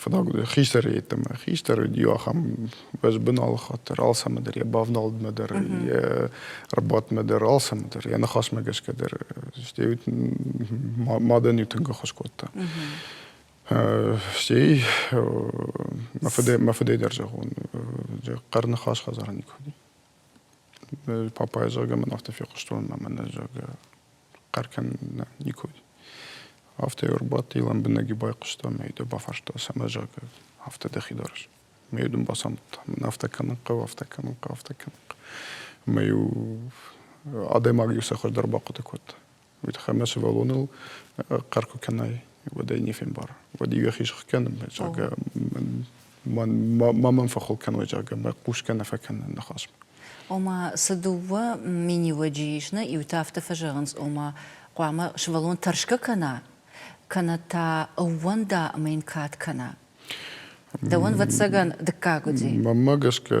Фӕдаг хистӕрӕй йеддӕмӕ. Хистӕр уыд иу ахӕм бӕзбын алыхатт дӕр, алцӕмӕ дӕр, йӕ бавнӕлдмӕ дӕр, йӕ ӕрбадтмӕ дӕр, алцӕмӕ дӕр, йӕ ныхасмӕ гӕсгӕ дӕр. Стӕй мадӕн иу тынг ӕххуыс кодта. Стӕй мӕ фыдӕй мӕ фыдӕй дӕр зӕгъон, хъӕр ныхас хӕдзарӕн никуы уыди. папайы зӕгъгӕ мын афтӕ фехъуыстон ӕмӕ нӕ зӕгъгӕ хъӕр кӕнын никуы уыд афтӕ ӕрбадти лӕмбынӕг и байхъуыста мӕ йӕ бафарста цӕмӕ зӕгъгӕ афтӕ дӕхи дарыс мӕ дын бацамыдта мын афтӕ кӕнын хъӕуы афтӕ кӕнын хъӕуы афтӕ кӕнын хъӕуы ӕмӕ иу адӕймаг иу цӕхӕр дӕр бахъуыды кодта Уид ӕмӕ сывӕллоныл хъӕр куы кӕнай, уӕд ӕй не фембар. Уӕд иуӕхи зӕгъгӕнӕм, зӕгъгӕ, ма мӕм фӕхыл кӕной, зӕгъгӕ, мӕ хъусгӕ нӕ фӕкӕнын ныхасмӕ. Ома, цы дыууӕ миниуӕджы ис нӕ иу тӕфты фӕзӕгъынц, ома, хъуамӕ сывӕллон тӕрсгӕ кӕна, кӕнӕ та ӕууӕнда ӕмӕ йын кад кӕна. Дӕуӕн, вӕццӕгӕн, дыккаг уыди. Мӕнмӕ гӕсгӕ,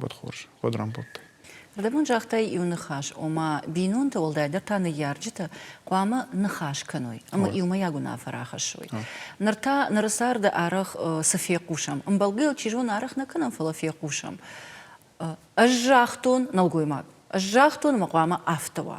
Уӕд хорз, уӕд рамбылдтай. Рдӕбон загътай иу ныхас, ома бинонтӕ, уӕлдайдӕр та ныййарджытӕ, хъуамӕ ныхас кӕной ӕмӕ иумӕйаг уынаффӕ рахӕссой. Ныр та ныры царды арӕх цы фехъусӕм? Ӕмбӕлгӕ йыл чи зоны арӕх нӕ кӕнӕм, фӕлӕ фехъусӕм. Ӕз загътон нӕлгоймаг, ӕз загътон ӕмӕ хъуамӕ афтӕ уа.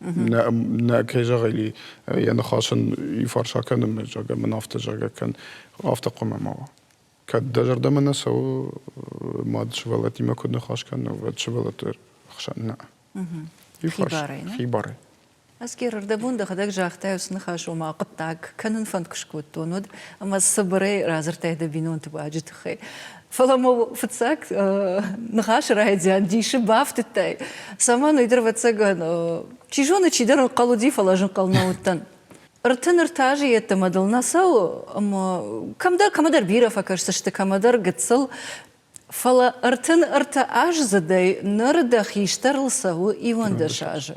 Нӕ, нӕ кӕй зӕгъили, йӕ ныхас ын фӕрса кӕнын, зӕгъгӕ, мын афтӕ, зӕгъгӕ, кӕн, афтӕ хъуамӕ ма уа. Кӕд дӕ зӕрдӕмӕ нӕ цӕуы, мад сывӕллӕттимӕ куыд ныхас кӕна, уӕд сывӕллӕтты хсӕн нӕ. Хибарӕй, нӕ? Хибарӕй. Аскер, ӕрдӕбон дӕхӕдӕг загътай, уыцы ныхас, ома хъуыддаг кӕнын фӕнкъуыст кодтон уӕд, ӕмӕ цыбырӕй радзырдтай дӕ бинонты баджы тыххӕй. Фӕлӕ ма фыццаг ныхасы райдиан дисы бафтыдтай, цӕмӕн ӕйдӕрвӕццӕгӕн, чи зоны, чидӕр ӕнхъӕл уыди, фӕлӕ ӕз ӕнхъӕл нӕ уыдтӕн. Ӕртын-ӕртӕ азы йеддӕмӕ дыл нӕ цӕуы, ӕмӕ кӕмдӕр кӕмӕдӕр бирӕ фӕкӕсдзысты, кӕмӕдӕр гыццыл. Фӕлӕ ӕртын-ӕртӕ аздзыдӕй ныр дӕ хистӕрыл цӕуы иуӕндӕс азы.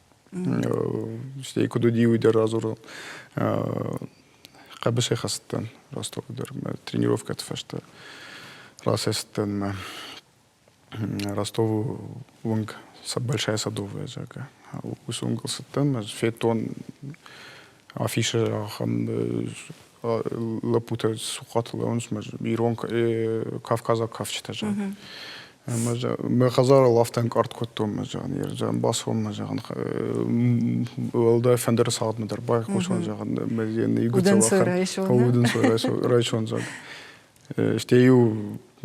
Стӕй куыд уыди, уый дӕр радзурон. Хъӕбысӕй хӕцыдтӕн Ростовы дӕр мӕ тренировкӕты фӕстӕ. Рацӕйцыдтӕн мӕ Ростовы уынг Большая Садовая зӕгъгӕ. Уыцы уынгыл цыдтӕн, мӕ федтон афишӕ ахӕм лӕппутӕ сухъаты лӕуынс ирон кавказаг кафджытӕ зӕгъын мӕ хӕдзарыл афтӕ ӕнкъард кодтон мӕ зӕгъын ерджан бацуан мӕ зӕгъын уӕлдай фӕндыры цагъдмӕ дӕр байхъусон зӕгъын мӕ райсон зӕгъын стӕй иу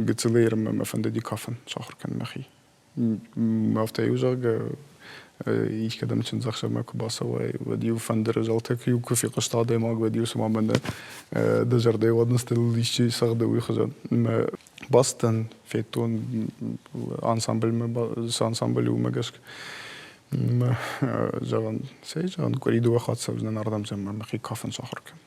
гыццылы ермӕ мӕ фӕнды кафын сахуыр кӕнын мӕхи Афтӕ-иу, зӕгъгӕ, искӕдӕм чындзӕхсӕвмӕ куы бацӕуай, уӕд-иу фӕндыры зӕлтӕ куы, куы фехъуыста адӕймаг, уӕд-иу цума мӕнӕ дӕ зӕрдӕйы уадындзтыл исчи цӕгъды, уый хуызӕн. Мӕ бацыдӕн федтон ансамбльмӕ, цы ансамбль уымӕ гӕсгӕ мӕ зӕгъӕн, цӕй зӕгъӕн, къуыри дыууӕ хатт цӕудзынӕн ардӕм, зӕгъӕм, мӕхи кафын сахуыр кӕнын.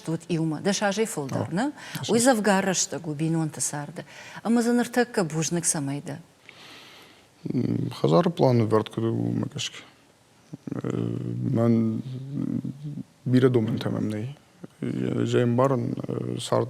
уыд иумӕ, дӕс азӕй фылдӕр нӕ, уый дзӕвгар рӕстӕг у бинонты царды. Ӕмӕ дзы ныртӕккӕ бузныг цӕмӕй дӕ? Хӕдзары планы ӕвӕрд куыд у, уымӕ гӕсгӕ. Мӕн бирӕ домӕнтӕ мӕм нӕй. Зӕй ӕмбарын цард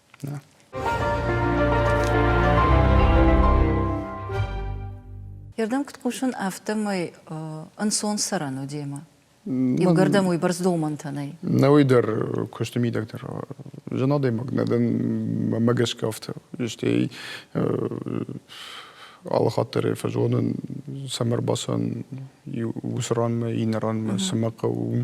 Ирдӕм куыд хъусын, афтӕмӕй ӕнцон цӕрӕн у демӕ. Иугӕрдӕм уый бӕрц домӕнтӕ нӕй. Нӕ уый дӕр куысты мидӕг дӕр зын адӕймаг нӕ дӕн мӕ гӕсгӕ афтӕ. Стӕй алы хатт дӕр фӕзонын, цӕмӕ ӕрбацӕн уыцы ранмӕ, иннӕ ранмӕ, цы мӕ хъӕуы, уым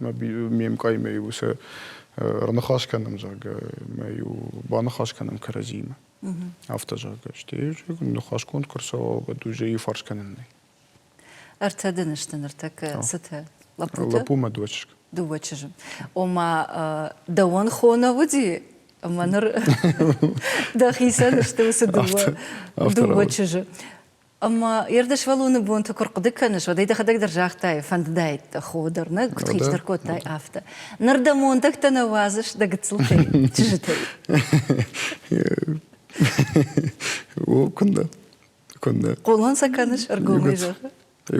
ме мкъаймӕ-иу сӕ ӕрныхас кӕнӕм, зӕгъгӕ, мӕ-иу баныхас кӕнӕм кӕрӕдзимӕ. Афтӕ, зӕгъгӕ, стӕй ныхасгонд куы рцӕуа, уӕд уже иу фарс кӕнӕн нӕй. Ӕртӕ дын сты ныртӕккӕ цытӕ? Лӕппутӕ? Лӕппумӕ дыууӕ чызг. Дыууӕ чызджы. Ома, дӕуӕн хоны уыди, ӕмӕ ныр дӕхицӕн сты уыцы дыууӕ, дыууӕ чызджы. Ӕмӕ Ердышвӕлоны бонты куы рхъуыды кӕныс, уӕд ӕй дӕхӕдӕг дӕр загътай, фӕндыдаид дӕ хо дӕр, нӕ куыд хистӕр кодтай, афтӕ. Ныр дӕ мондӕгтӕ нӕ уадзыс дӕ гыццылтӕй, чызджытӕй. О, куыннӕ, куыннӕ. Хъулон сӕ кӕныс ӕргомӕй зӕгъы.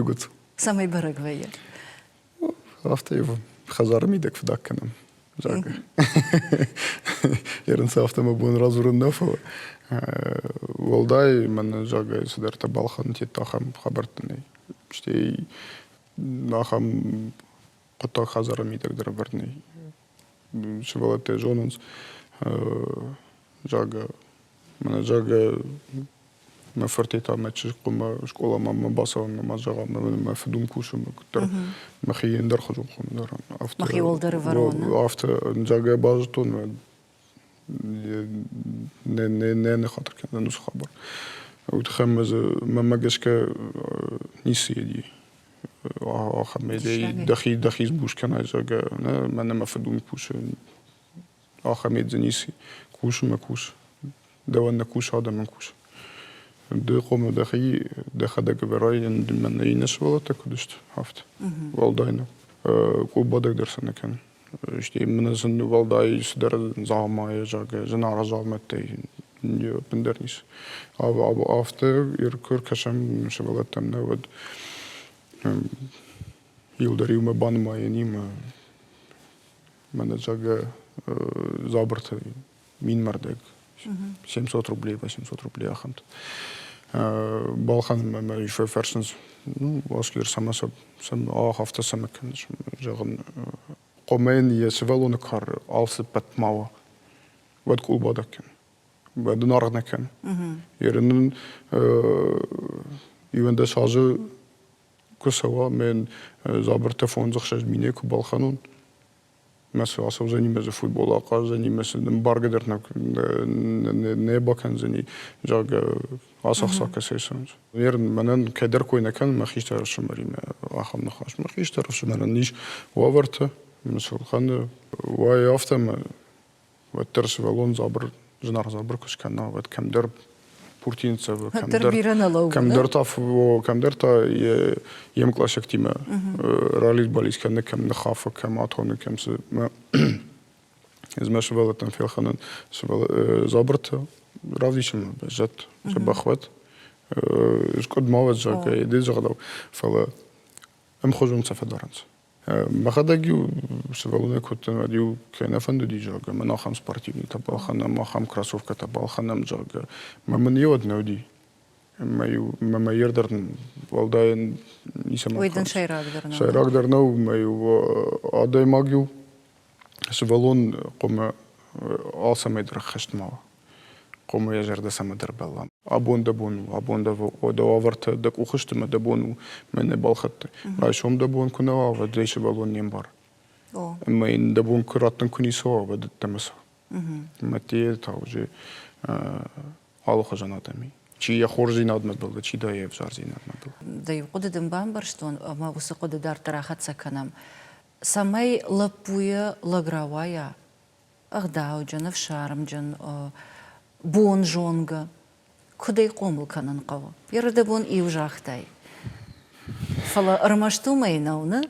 Егуц. Цӕмӕй бӕрӕг вӕййы? афтӕ ивы хӕдзары мидӕг фыдаг кӕнӕм зӕгъгӕ ерынцы афтӕ мӕ бон радзурын нӕ фӕуы уӕлдай мӕнӕ зӕгъгӕ цыдӕртӕ балхӕныны тедта ахӕм хабӕрттӕ нӕй стӕй ахӕм хъуыддаг хӕдзары мидӕг дӕр ӕвӕрд нӕй сывӕллӕттӕ зонынц зӕгъгӕ Мӕнӕ зӕгъгӕ мӕ фыртӕй та мӕ чызгхъумӕ скъоламӕ ма бацӕуын ӕмӕ зӕгъӕм мӕ фыдуым кусын куыддӕр мӕхи ендӕрхуызон хуым дарӕм афтӕ мӕхи уӕлдӕр ӕвӕрон афтӕ зӕгъгӕ базыдтон нӕ нӕ нӕ ныххатыр кӕнӕн уыцы хабар уый тыххӕй мӕ дзы мӕмӕ гӕсгӕ ницы иди ахӕм дӕхи дӕхи сбус кӕнай зӕгъгӕ нӕ мӕнӕ мӕ фыдуым кусы Ахӕм едзе ницы и. Кусынмӕ кус. Дӕуӕн нӕ кусы, адӕмӕн кус. Ды хъомыл дӕхи, дӕхӕдӕг ӕвӕрай, ӕндӕр нӕ иннӕ сывӕллӕттӕ куыд сты, афтӕ. Уӕлдай нӕ къулбадӕг дӕр сӕ нӕ кӕны. Стӕй мӕнӕ зын уӕлдай цыдӕр дзаумайы, зӕгъгӕ, зынаргъ дзаумӕттӕй ӕппындӕр ницы. Афтӕ куы ӕркӕсӕм сывӕллӕттӕм нӕ, уӕд иу дӕр иумӕ банымайӕн нимӕ мӕнӕджагӕ дзабырты минмӕрдӕг 700 рублей 800 рублей ахӕмт балхӕнынмӕ мӕ фӕфӕрсынц Оскар цӕмӕ сӕ афтӕ цӕмӕ кӕныс зӕгъын хъомӕн йӕ сывӕллоны кары алцыппӕт ма уа уӕд къулбадӕг кӕн уӕд ын аргъ нӕ кӕн йӕ нын ивӕндӕс азы Куы цӕуа, ме дзабыртӕ фондзӕхсӕз минӕй куы балхӕнон, мӕ цы ацӕудзӕни, мӕ дзы футбол ахъаздзӕни, мӕ цы бӕргӕ дӕр нӕ бакӕндзӕни, зӕгъгӕ, ацы ӕхцакӕ сӕйсонс. Нер мӕнӕн кӕдӕр кой нӕ кӕн мӕ хистӕр ӕфсымӕримӕ ахӕм ныхас. Мӕ хистӕр ӕфсымӕрӕн ис уавӕртӕ, мын сыл кӕны, уайы афтӕ, мӕ уӕддӕр сывӕллон дзабыр зынаргъ дзабыр куы скӕна, уӕд кӕмдӕр пурти нцӕвы, кӕмдӕр, кӕмдӕр та кӕмдӕр та йе мкъласӕгтимӕ рализ-бализ кӕны, кӕм ныххафы, кӕм атоны, кӕм цы. Ӕз мӕ сывӕллӕттӕн фелхӕнын дзабыртӕ, равдисынмӕ бӕззӕд, сӕ бӕхуӕд, скъуыд ма уӕд, зӕгъгӕ, ды зӕгъдау, фӕлӕ ӕмхуызон сӕ фӕдарынц. Мӕхӕдӕг-иу сывӕллонӕй кодтон, уӕд-иу кӕй нӕ фӕндыди, зӕгъгӕ, мӕн ахӕм спортивнитӕ балхӕнӕм, ахӕм кроссовкӕтӕ балхӕнӕм, зӕгъгӕ. Мӕ мын йеуӕд нӕ уыди. Мӕ-иу мӕ мӕййер дӕр уӕлдай ницӕмӕн Уый дын сӕйрагдӕр нӕу. Сӕйрагдӕр нӕу, мӕ-иу адӕймаг-иу сывӕллон къуымы алцӕмӕй дӕр ӕххӕст ма уа. хъуамӕ йӕ зӕрдӕ цӕмӕдӕр бӕлла. Абон дӕ бон у, абон дӕ дӕ уавӕртӕ, дӕ къухы сты мӕ дӕ бон у мӕ не балхӕдтай. Райсом дӕ бон куы нӕ уа, уӕд ӕй сывӕллон не мбар. Ӕмӕ йын дӕ бон куы раттын куы ницы уа, уӕд ӕддӕмӕ цӕу. Мӕтъейы та уже алыхуызон адӕм и. Чи йӕ хорздзинадмӕ бӕллы, чи та йӕ ӕвзӕрдзинадмӕ бӕллы. Дӕ иу хъуыды дын бамбӕрстон, ӕмӕ уыцы хъуыды дарддӕр ахӕццӕ кӕнӕм, цӕмӕй лӕппуйы лӕг рауайа, ӕгъдауджын, ӕфсармджын, бонзонгӕ, куыд ӕй хъомыл кӕнын хъӕуы, ерырдӕбон иу загътай. Фӕлӕ ӕрмӕст уымӕй нӕу, нӕ?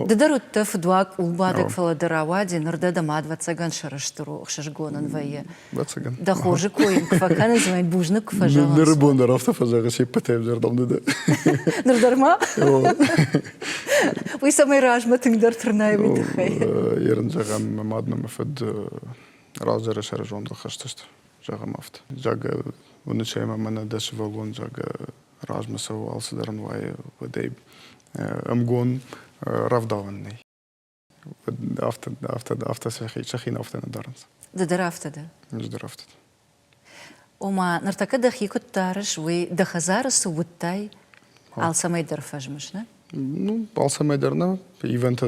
Ды дӕр уыдтӕ фыдуаг къулбадӕг, фӕлӕ ды рауади, ныр дӕ дӕ мад вӕццӕгӕн сӕрыстыр у, ӕхсызгон ын вӕййы. Вӕццӕгӕн. Дӕ хорзы кой ын куы фӕкӕнынц, уымӕй бузныг куы фӕзӕгъынц. Ныры бон дӕр афтӕ фӕзӕгъы се ппӕтӕй дӕр дам ды дӕ. Ныр дӕр ма? Уый цӕмӕй размӕ тынгдӕр тырнай, уый тыххӕй. Йе рын зӕгъӕм, мӕ мад нӕ мӕ фыд раздӕры сӕрызондыл хызтысты. Зӕгъӕм афтӕ. Загъгӕ, уыны чӕй ма мӕнӕ дӕ сывӕллон, загъгӕ, размӕ цӕуы алцыдӕр ын уайы, уӕдӕй ӕмгон рӕвдауӕн нӕй. Афтӕ, афтӕ, афтӕ сӕ хи, сӕ хин афтӕ нӕ дарынц. Ды дӕр афтӕ дӕ? Ӕз дӕр афтӕ. Ома, ныртӕккӕ дӕхи куыд дарыс, уый дӕ хӕдзары цы уыдтай, алцӕмӕй дӕр фӕзмыс, нӕ? Ну, алцӕмӕй дӕр нӕ. Ивентӕ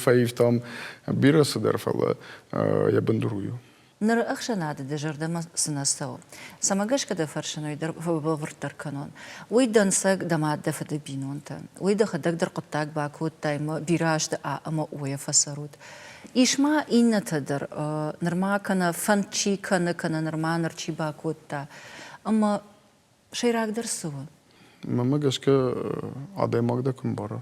фӕивтам бирӕ цыдӕр, фӕлӕ йӕ бындур у. Ныры ӕхсӕнады дӕ зӕрдӕмӕ цынӕ цӕуы? Цӕмӕ гӕсгӕ дӕ фӕрсын, уый дӕр бӕлвырддӕр кӕнон. Уый дӕнцӕг дӕ мад дӕ фыды бинонтӕн. Уый дӕхӕдӕг дӕр хъуыддаг бакодтай мӕ бирӕ азты а ӕмӕ о-йӕ фӕцӕрут. Ис ма иннӕтӕ дӕр, нырма кӕнӕ фӕнд чи кӕны, кӕнӕ нырма ныр чи бакодта. Ӕмӕ сӕйрагдӕр цы у? Мӕнмӕ гӕсгӕ, адӕймаг дӕ куы мбара,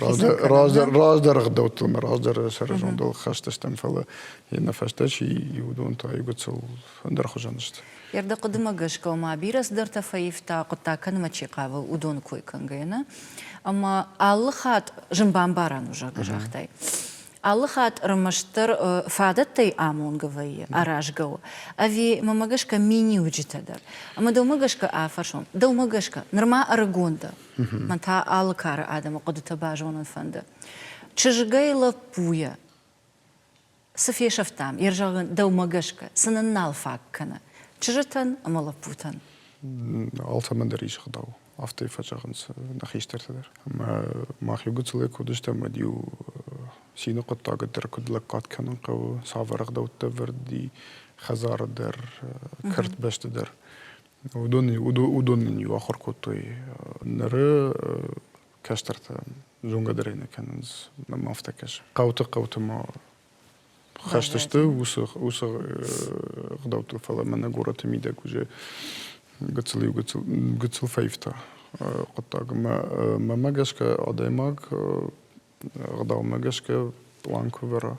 раздӕр раздӕр ӕгъдӕуттыл ӕмӕ раздӕр сӕрызондыл хӕст стӕм фӕлӕ йе фӕстӕ чи уыдон та иугыцыл ӕндӕр хуызӕн сты. Ӕрдӕхъуыдымӕ гӕсгӕ ма бирӕ цыдӕртӕ фӕивта, хъуыддаг кӕнынмӕ чи хъавы, уыдоны кой кӕнгӕйӕ нӕ. Ӕмӕ алы хатт зын бамбарӕн у, загътай. Алы хатт ӕрмӕстдӕр фадӕттӕй амонгӕ вӕййы, аразгӕ у. Ӕви мӕмӕ гӕсгӕ миниуджытӕ дӕр? Ӕмӕ дӕумӕ гӕсгӕ афӕрсон, дӕумӕ гӕсгӕ нырма ӕрыгон дӕ, Мӕн та алы кары адӕмы хъуыдытӕ базонын фӕнды. Чызгӕй лӕппуйӕ цы фесӕфтам, йе рзӕгъын дӕумӕ гӕсгӕ цы нын нал фаг кӕны чызджытӕн ӕмӕ лӕппутӕн? Алцӕмӕн дӕр ис ӕгъдау, афтӕ фӕзӕгъынц нӕ хистӕртӕ дӕр. Ӕмӕ мах иу гыццылӕй куы уыдыстӕм, уӕд-иу цины хъуыддагы дӕр куыд лӕггад кӕнын хъӕуы, цавӕр ӕгъдӕутты ӕвӕрд и хӕдзары дӕр, кӕртбӕсты дӕр. Уыдон уыдон нын-иу ахуыр кодтой ныры кӕстӕртӕ зонгӕдӕрӕй нӕ кӕнынц мӕм афтӕ кӕсы. Хъӕуты хъӕуты ма хӕст сты уыцы уыцы ӕгъдӕуттыл, фӕлӕ мӕнӕ горӕты мидӕг уыджы гыццыл-иу гыццыл гыццыл фӕивта хъуыддаг. Мӕ мӕ гӕсгӕ адӕймаг ӕгъдаумӕ гӕсгӕ план куы ӕвӕра.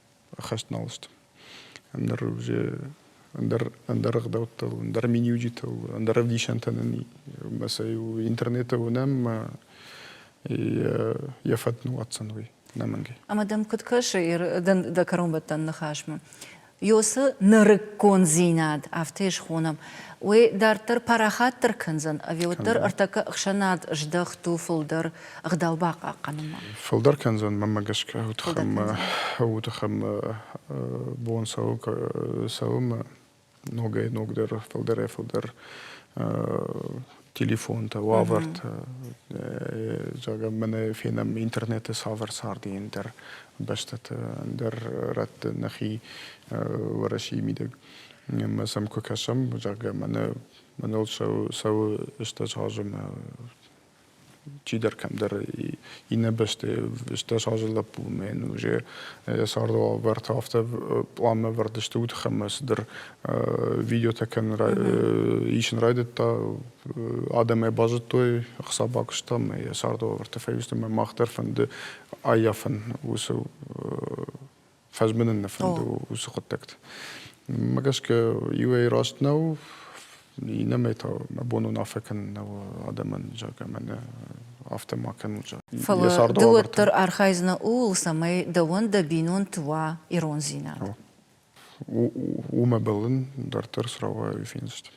хӕстналаст ӕндӕр уже ӕндӕр ӕндӕр ӕгъдӕуттыл ӕндӕр миниуджытыл ӕндӕр ӕвдисӕнтӕ нын ма сӕ интернеты уынӕм ма йӕ фӕд нуатдзӕн уый ӕнӕмӕнгӕй ӕмӕ дӕм куыд кӕсы дӕ кӕронбӕттӕн ныхасмӕ ёсы нырыккондзинад афтӕ схонӕм уый дарддӕр парахатдӕр кӕндзӕн ӕви уӕддӕр ӕртӕккӕ ӕхсӕнад здӕхт у фылдӕр ӕгъдау бахъахъхъӕнынмӕ. Фылдӕр кӕндзӕн мӕнмӕ гӕсгӕ уы тыххӕн бон цӕуы ногӕй ногдӕр фылдӕрӕй фылдӕр телефонтӕ, уавӕртӕ. Зӕгъӕм, мӕнӕ фенӕм интернеты цавӕр царды ӕндӕр бӕстӕты ӕндӕр рӕтты нӕхи Уӕрӕсейы мидӕг ӕмӕ сӕм куы кӕсӕм, зӕгъгӕ, мӕнӕ мӕныл цӕуы сӕ ыстӕджы азымы чидӕр кӕмдӕр иннӕ бӕсты стӕс азы лӕппумӕн уже йӕ цардуавӕртӕ афтӕ пъланмӕ ӕвӕрд сты удх ӕмӕ цыдӕр видеотӕ кӕнын исын райдыдта адӕм ӕй базыдтой ӕхца бакуыста ӕмӕ йӕ цардуавӕртӕ фӕивтой ӕмӕ мах дӕр фӕнды ӕййафын уыцы Фӕзмынын нӕ фӕнды уыцы хъуыддӕгты. Мӕ гӕсгӕ иуӕй раст нӕу, иннӕмӕй та мӕ бон уынаффӕ кӕнын нӕу адӕмӕн, зӕгъгӕ, мӕнӕ афтӕ ма кӕнут, зӕгъгӕ. Фӕлӕ ды уӕддӕр архайдзынӕ ууыл, цӕмӕй дӕуӕн дӕ бинонты уа ирондзинад. Уымӕ бӕллын дарддӕр срауайы финдзыстӕм.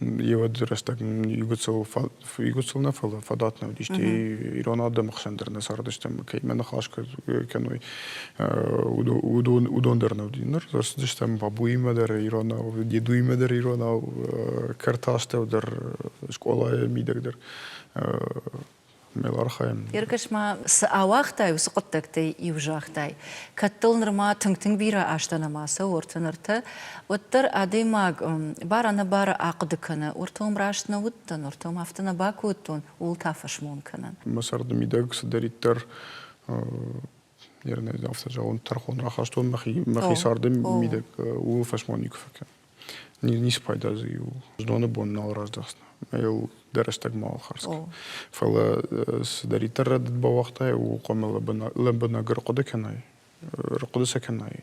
Йеуӕд рӕстӕг игуыцыл игуыцыл нӕ, фӕлӕ фадат нӕ уыди, стӕй ирон адӕмы хсӕн дӕр нӕ цардыстӕм, кӕимӕ ныхас кӕной, уыдон уыдон дӕр нӕ уыди. Ныр рацыдыстӕм бабуимӕ дӕр иронау, дедуимӕ дӕр иронау, кӕрты астӕу дӕр, скъолайы мидӕг дӕр ме лархайын. Еркӕс-ма, цы ауагътай, уыцы хъуыддӕгтӕй иу загътай, кӕд дыл нырма тынг-тынг бирӕ азтӕ нӕма цӕуы, ортӕ нартӕ, уӕддӕр адӕймаг бар-ӕнӕбары ахъуыды кӕны, ортӕ уым раст нӕ уыдтӕн, ортӕ уым афтӕ нӕ бакодтон, ууыл та фӕсмон кӕны. Мӕ царды мидӕг цыдӕриддӕр афтӕ зӕгъон, тӕрхон рахастон мӕхи мӕхи царды мидӕг, ууыл фӕсмон никуы фӕкӕн. Ницы пайда дзы иу зноны бон нал раздӕхдзынӕ ӕмӕ йыл дӕ рӕстӕг мал хардз кӕн. Фӕлӕ цыдӕриддӕр рӕдыд бауагътай, ууыл хъуамӕ лӕбӕнӕг ӕрхъуыды кӕнай, ӕрхъуыды сӕ кӕнай,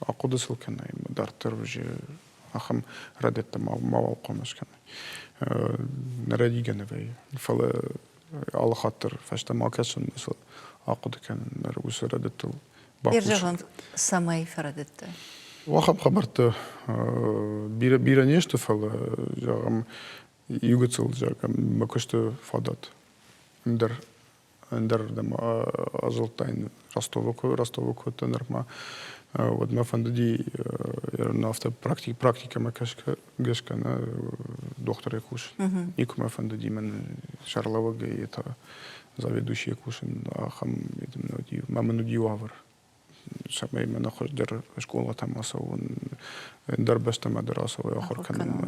ахъуыды сыл кӕнай, дарддӕр уыджы ахӕм рӕдыдтӕ мауал хъуамӕ скӕнай. Нӕ рӕдигӕ нӕ вӕййы. Фӕлӕ алы хатдӕр фӕстӕмӕ акӕсын уыцы ахъуыды кӕнын ныр уыцы фӕрӕдыдтыл бахъусын цӕмӕй фӕрӕдыдты уахӕм хабӕрттӕ бирӕ бирӕ не сты фӕлӕ зӕгъӕм иугыцыл зӕгъӕм куысты фадат ӕндӕр ӕндӕр ӕзылдтайын Ростовы куы, Ростовы куыдтӕ нырмӕ, уӕд мӕ фӕндыди афтӕ практик, практикӕмӕ гӕсгӕ, гӕсгӕ нӕ дохтырӕй кусын. Никуы мӕ фӕндыди мӕн сӕргълӕууӕгӕй та заведующийӕ кусын, ахӕм ма мын уыди уавӕр цӕмӕй мӕнӕ хуыздӕр скъолатӕм ацӕуон, ӕндӕр бӕстӕмӕ дӕр ацӕуой ахуыр кӕнынмӕ.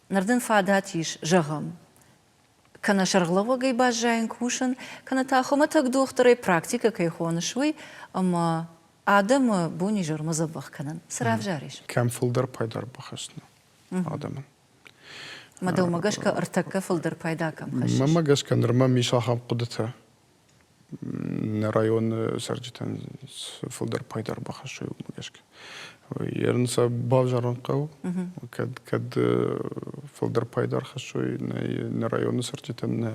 Ныр дын фадат ис зӕгъын, кӕнӕ сӕргълӕууӕгӕй баззайын, кусын, кӕнӕ та хуымӕтӕг дохтырӕй практикӕ кӕй хоныс, уый, ӕмӕ адӕмы бон-изӕрмӕ дзӕбӕх кӕнын. Цы равзарис? Кӕм фылдӕр пайда ӕрбахӕсдзынӕ адӕмӕн? Мӕ дӕумӕ гӕсгӕ ӕртӕккӕ фылдӕр пайда кӕм хӕссыс? Мӕмӕ гӕсгӕ нырма ам ис ахӕм хъуыдытӕ, Нӕ районы цӕрджытӕн фылдӕр пайда ӕрбахӕссы уымӕ гӕсгӕ. Ерынцӕ бавзарын хъӕуы, кӕд кӕд фылдӕр пайда ӕрхӕссой нӕ нӕ районы цӕрджытӕн, нӕ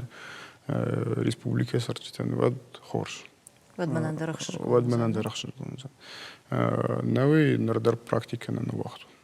республикӕйы цӕрджытӕн, уӕд хорз. Уӕд мӕнӕн дӕр ӕхсызгон уыдзӕн. Уӕд мӕнӕн дӕр ӕхсызгон уыдзӕн. Науӕй ныр дӕр практикӕ нӕ ныууагътон.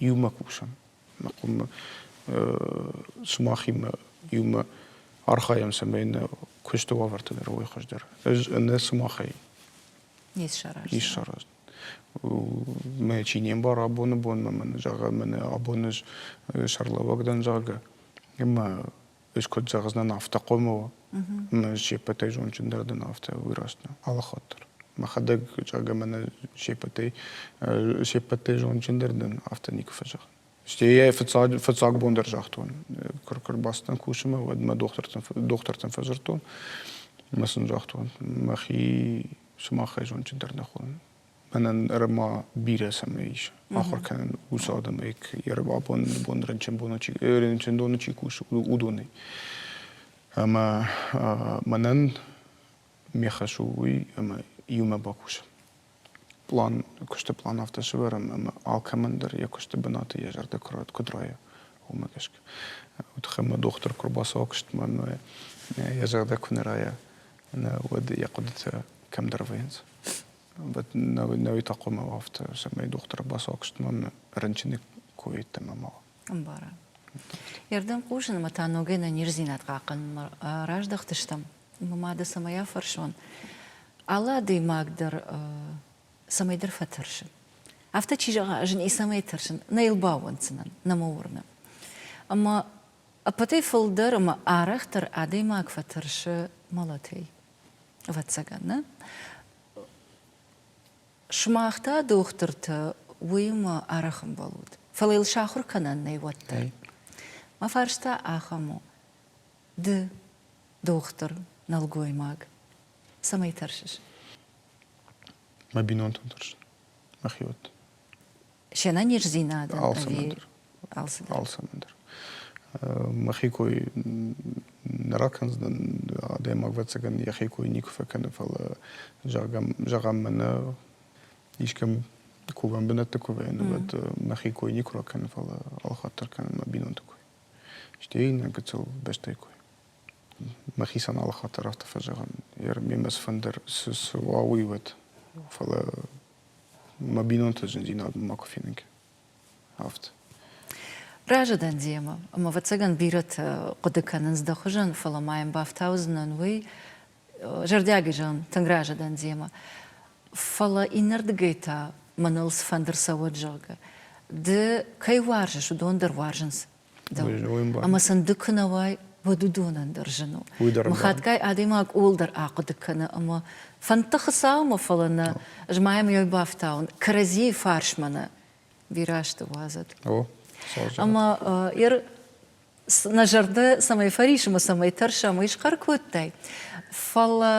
иумӕ кусӕм. Мӕ къуымы сымахимӕ иумӕ архайӕм, цӕмӕй нӕ куысты уавӕртӕ дӕр уой хуыздӕр. Ӕз нӕ сымахӕй не ссараздзӕн. Не ссараздзӕн. Мӕ чи не мбара абоны бонмӕ, мӕн зӕгъа, мӕнӕ абон ӕз сӕргълӕууӕг дӕн, зӕгъгӕ, ӕмӕ Ис куыд зӕгъдзынӕн, афтӕ хъомы уа. Ӕмӕ се ппӕтӕй зондджындӕр дӕн афтӕ, уый раст у. Алыхатдӕр. Мӕхӕдӕг зӕгъӕм ӕмӕ се ппӕтӕй се ппӕтӕй зондджындӕр дӕн, афтӕ никуы фӕзӕгъын. Стӕй йӕ фыццаг, фыццаг бон дӕр загътон, куы куы рбацыдтӕн кусынмӕ, уӕд мӕ дохтыртӕн, дохтыртӕн фӕдзырдтон. Ӕмӕ сын загътон, мӕхи сымахӕй зондджындӕр нӕ хъуын. мӕнӕн ӕрӕма бирӕ цӕмӕй ис ахуыр кӕнын уыцы адӕмӕй абоны бон рынчындоны чи рынчындоны чи кусы уыдонӕй ӕмӕ мӕнӕн ме хӕс у уый ӕмӕ иумӕ бакусын план куысты план афтӕ сӕвӕрӕм ӕмӕ алкӕмӕн дӕр йӕ куысты бынаты йӕ зӕрдӕ куыд райа уымӕ гӕсгӕ тыххӕй мӕ дохтыр куы рбацӕуа куыстмӕ ӕмӕ йӕ зӕрдӕ куы нӕ райа нӕ уӕд йӕ хъуыдытӕ кӕмдӕр вӕййынц Навитӕ хъумавафта, сӕмӕй дохтыр басуакстман рынчыны койеттӕмӕ ма. Ӕмбара. Ердӕм хъусынмӕ та ногӕй нӕниздзинад хъахъхъӕнынмӕ раздӕхтыстӕм. Мады цӕмӕй афӕрсон, алы адӕймаг дӕр цӕмӕйдӕр фӕтӕрсы. Афтӕ чи зӕгъа, ӕз ницӕмӕй тӕрсын, нӕ йыл баууӕнддзынӕн, нӕ мӕ уырны. Ӕмӕ ӕппӕтӕй фылдӕр ӕмӕ арӕхдӕр адӕймаг фӕтӕрсы мӕлӕтӕй. Ӕвӕццӕгӕн, нӕ? Сымах та, дохтыртӕ, уыимӕ арӕх ӕмбал ут, фӕлӕ йыл сахуыр кӕнӕн нӕй уӕддӕр. Мӕ фарста ахӕм у, ды дохтыр, нӕлгоймаг, цӕмӕй тӕрсыс? Мӕ бинонтон тӕрсын, мӕхиуӕтт. се нӕниздзинадӕн ӕви алцыдӕр? Алцӕмӕн дӕр. Мӕхи кой нӕ ракӕндзӕн адӕймаг, ӕвӕццӕгӕн йӕхи кой никуы фӕкӕны, фӕлӕ зӕгъӕм, зӕгъӕм мӕнӕ искӕм кувӕн бынӕтты кувӕн, уӕд мӕхи кой никуы ракӕны, фӕлӕ алхатдӕр кӕны мӕ бинонты кой. Стӕй иннӕ гыццыл бӕстӕйы кой. Мӕхицӕн алхатдӕр афтӕ фӕзӕгъын, ме мӕ цыфӕндӕр цы уа, уый уӕд. Фӕлӕ мӕ бинонты зындзинадмӕ ма куы фенынкӕ афтӕ разы дӕн демӕ ӕмӕ ӕвӕццӕгӕн бирӕтӕ хъуыды кӕнынц дӕ хуызӕн фӕлӕ ма йӕм бафтаудзынӕн уый зӕрдиаг изӕн тынг разы дӕн демӕ фӕлӕ иннӕрдыгӕй та мӕныл цыфӕнды рцӕуӕд зӕгъгӕ ды кӕй уарзыс уыдон дӕр уарзынц Ӕмӕ сын ды куы нӕ уай, уӕд уыдонӕн дӕр зын у. Мыхатгай адӕймаг ууыл дӕр ахъуыды кӕны ӕмӕ фӕндты Хуыцаумӕ, фӕлӕ нӕ, ӕз ма йӕм йӕ бафтауын, кӕрӕдзийы фарсмӕ нӕ бирӕ сты уадзӕт. Ӕмӕ Ир, нӕ зӕрдӕ цӕмӕй фӕрис ӕмӕ цӕмӕй тӕрсӕм, уый схъӕр кодтай, фӕлӕ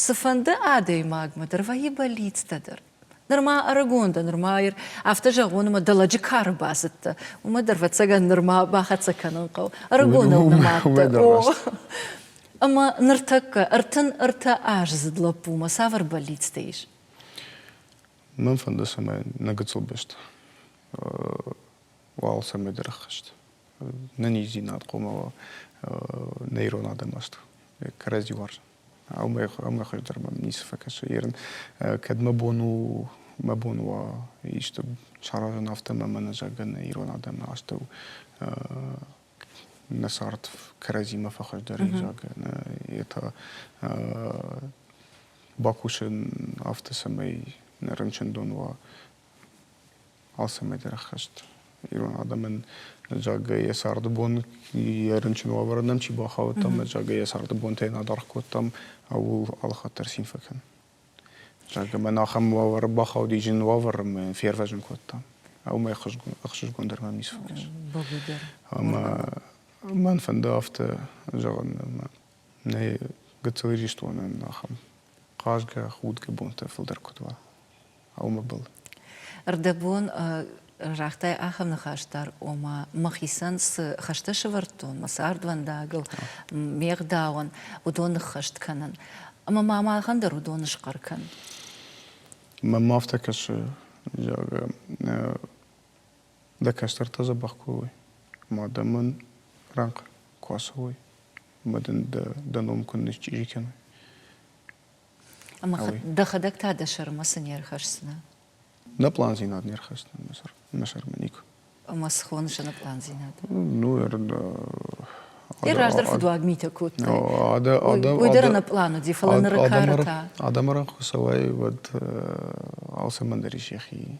Цыфӕнды адӕймагмӕ дӕр вӕййы бӕллицтӕ дӕр. Нырма ӕрыгон дӕ, нырма ӕр... афтӕ зӕгъон, ӕмӕ дӕ лӕджы кары бацыдтӕ, уымӕ дӕр, ӕвӕццӕгӕн, нырма бахӕццӕ кӕнын хъӕуы. Ӕрыгоныл нымадтӕ. Ӕмӕ ныртӕккӕ ӕртын ӕртӕ аздзыд лӕппумӕ цавӕр бӕллицтӕ ис? Мӕн фӕнды, цӕмӕй нӕ гыццыл бӕсты уал цӕмӕйдӕр ӕххӕст. Нӕниздзинад хъуамӕ нӕ ирон адӕмаст кӕрӕдзи уарза. Ӕмӕ хуыздӕр мӕм ницы фӕкӕсы. Ерын кӕд мӕ бон у мӕ бон уа исты саразын афтӕ ӕмӕ мӕнӕ зӕгъын ирон адӕмы астӕу нӕ цард кӕрӕдзимӕ фӕхуыздӕрӕй зӕгъын, йе та бакусын афтӕ, цӕмӕй нӕ рынчындон уа Алцӕмӕй-дӕр ӕххӕст. Ирон адӕмӕн зӕгъгӕ йӕ царды бон, йӕ рынчын уавӕры нӕм чи бахаудтам, зӕгъгӕ йӕ царды бонтӕй нӕ адаргъ кодтам, ууыл алыхатдӕр цин фӕкӕн. Зӕгъгӕ мӕн ахӕм уавӕры бахауди зын уавӕр ӕмӕ фервӕзын кодтам. Уымӕй ӕхсызгондӕр мӕм ницы фӕкӕс. Бӕгуы дӕр. Ӕмӕ мӕн фӕнды афтӕ зӕгъын, ӕмӕ нӕ гыццыл Ирыстонӕн ахӕм хъазгӕ, худгӕ бонтӕ фылдӕр куыд уа. аумӕбӕл. Рдӕбон загътай ахӕм ныхас дӕр, ома мӕхицӕн цы хӕстӕ сӕвӕрдтон, мӕ цардвӕндагыл, ме гъдауӕн, уыдон ныххӕст кӕнын. Ӕмӕ ма махӕн дӕр уыдон схъӕр кӕн. Мӕм ма афтӕ кӕсы, зӕгъгӕ, дӕ кӕстӕртӕ дзӕбӕх куы уой, ӕмӕ дӕ мӕн рӕнхъ куы ацӕуой, ӕмӕ дын дӕ, дӕ ном куыннӕ счъири кӕной. Ӕмӕ дӕхӕдӕг та дӕ сӕрмӕ цы не рхӕсдзынӕ? Нӕ пландзинад не рхӕсдзӕн мӕ сӕр, мӕ сӕрмӕ никуы. Ӕмӕ цы хоны сӕ нӕ пландзинад? Ну, Ты раздӕр фыдуаг митӕ кодтай. Уый дӕр ӕнӕплан уыди, фӕлӕ ныры кары та. Адӕмы ран куы цӕуай, уӕд алцӕмӕн дӕр ис йӕхи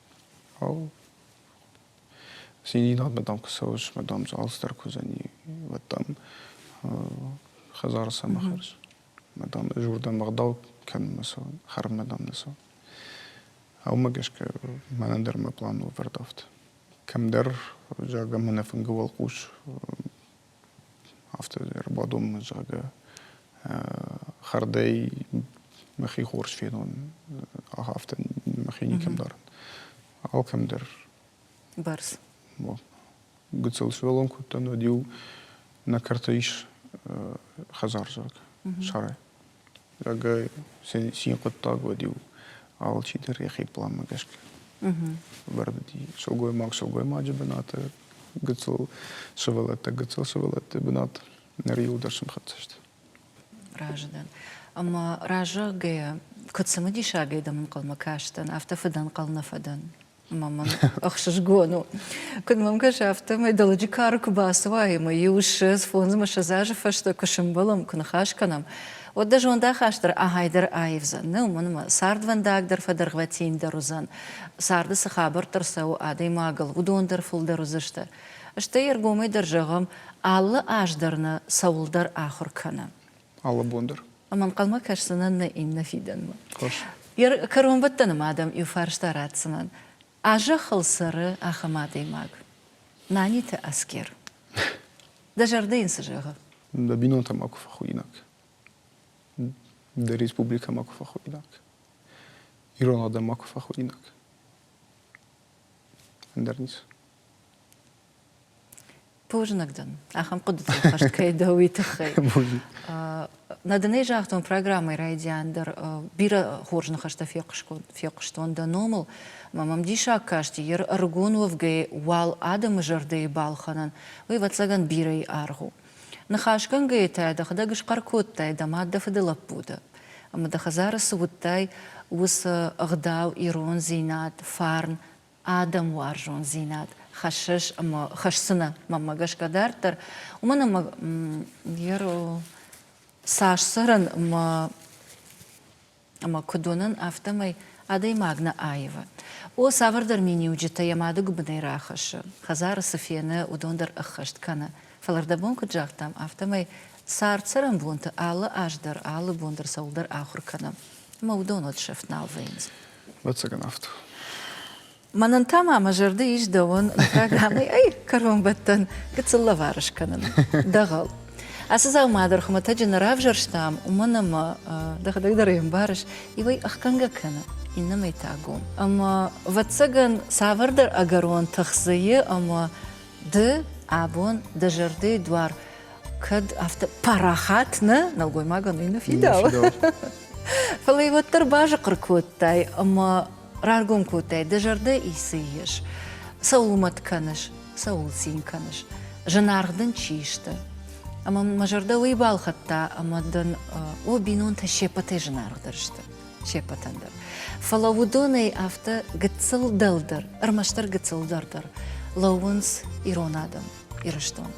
Циндинад мадам куы цӕуыс, мадам алцыдӕр куы уыдзӕни, уӕд дам хӕдзары сӕ ма хӕрыс. Мадам зурдӕн ма ӕгъдау кӕнын ма цӕуын, хӕрын мадам нӕ цӕуын. Уымӕ гӕсгӕ мӕнӕн дӕр мӕ план ӕвӕрд афтӕ. Кӕмдӕр, зӕгъӕм, ӕнӕфынгӕ уӕлхъус афтӕ ӕрбадоммӕ зӕгъгӕ хӕрдӕй мӕхи хорз фенон афтӕ мӕхи никӕм дарын алкӕмдӕр бӕрц гыццыл сывӕллон кодтан уӕд иу нӕ кӕрты ис хӕдзарзаг сарай Рагӕй цин хъуыддаг уӕд-иу алчидӕр йӕхи планмӕ гӕсгӕ ӕвӕрд уыди. Сылгоймаг сылгоймаджы бынаты гыццыл сывӕллӕттӕ гыццыл-сывӕллӕтты бынат ныр иуылдӕр сӕмхӕццӕ сты. Разы дӕн. Ӕмӕ разыгӕйӕ, куыд цымыдисы обедом ӕнхъӕлмӕ кастӕн, афтӕ фыдӕнхъӕл нӕ фӕдӕн. Ма мын ӕхсызгон у. Куыд мӕм кӕсы, афтӕмӕй дӕлӕджы кары куы бацуай ӕмӕ иу ссӕдз фондз ӕмӕ сӕдз азы фӕстӕ куы сымбӕлӕм, куы ныхас кӕнӕм, уӕд дӕ зондахаст дӕр ахӕйдӕр аивдзӕн. Нӕ уымӕн ӕмӕ цардвӕндаг дӕр фӕдӕргъвӕтиндӕр уыдзӕн, царды цы хабӕрттӕ рцӕуы адӕймагыл, уыдон дӕр фылдӕр уыдзысты. Стӕй ӕргомӕй дӕр зӕгъӕм, алы аз дӕр нӕ цӕуылдӕр ахуыр кӕны. алы бон дӕр. Ам ӕнхъӕлмӕ кӕсдзынӕн нӕ иннӕ фидӕнмӕ. Хорз. Йӕ кӕронбӕттӕны адӕм иу фарста ратдзынӕн. А зӕххыл цӕры ахӕм адӕймаг, Наниты Аскер. Дӕ зӕрдӕ йын цы зӕгъы? Дӕ бинонтӕ макуы фӕхуыйнӕг. Дӕ республикӕ макуы фӕхуыйнӕг. Ирон адӕм макуы фӕхуыйнӕг. Ӕндӕр ницы. Бузынг дын ахӕм хъуыдыты хӕст кӕй дӕ, уый тыххӕй. Нӕ дын ӕй загътон программӕйы райдиан дӕр. Бирӕ хорз ныхӕстӕ фехъуыстон дӕ номыл. Мӕ мӕм диссаг касти, йе рыгон уӕвгӕйӕ уал адӕмы зӕрдӕйы балхӕнӕн, уый, ӕвӕццӕгӕн, бирӕйы аргъ у. Ныхасгӕнгӕйӕ та дӕхӕдӕг схъӕр кодтай дӕ мад, дӕ фыды лӕппуты. Ӕмӕ дӕ хӕдзары цы уыдтай, уыцы ӕгъдау, ирондзинад, фарн адӕм уарзондзинад хӕссыс ӕмӕ хӕсдзынӕ мӕнмӕ гӕсгӕ дарддӕр, уымӕн ӕмӕ цас цӕрын ӕмӕ ӕмӕ куыд уынын, афтӕмӕй адӕймаг нӕ аивы. О, цавӕрдӕр миниуджытӕ йӕ мады гуыбынӕй рахӕссы, хӕдзары цы фены, уыдон дӕр ӕххӕст кӕны. Фӕлӕ рдӕбон куыд загътам, афтӕмӕй цард-цӕрӕнбонты алы аз дӕр, алы бон дӕр цӕуылдӕр ахуыр кӕны, ӕмӕ уыдон уӕд сӕфт нал вӕййынц. Ӕцӕгӕн афтӕ. Мӕнӕн та ма мӕ зӕрды ис дӕуын программӕ ай кӕронбӕттӕн гыццыл лӕвар скӕнын дӕгъӕл. Ацы дзаума дӕр хуымӕтӕджы нӕ равзӕрстам, уымӕн ӕмӕ дӕхӕдӕг дӕр ӕй ӕмбарыс, иуӕй ӕхгӕнгӕ кӕны, иннӕмӕй та гом. Ӕмӕ, ӕвӕццӕгӕн, цавӕрдӕр ӕгӕрон тых дзы и ӕмӕ ды абон дӕ зӕрдӕйы дуар кӕд афтӕ парахат нӕ нӕлгоймагӕн уый нӕ фидауы фӕлӕ уӕддӕр базыхъхъыр кодтай ӕмӕ раргом кодтай дӕ зӕрдӕ ицы ис цӕуыл мӕт кӕныс цӕуыл цин кӕныс зынаргъ дын чи сты ӕмӕ мӕ зӕрдӕ уый балхӕдта ӕмӕ дын о бинонтӕ се ппӕтӕй зынаргъдӕр сты се ппӕтӕн дӕр фӕлӕ уыдонӕй афтӕ гыццыл дӕлдӕр ӕрмӕстдӕр гыццыл дӕр дӕр лӕууынц ирон адӕм Ирыстон.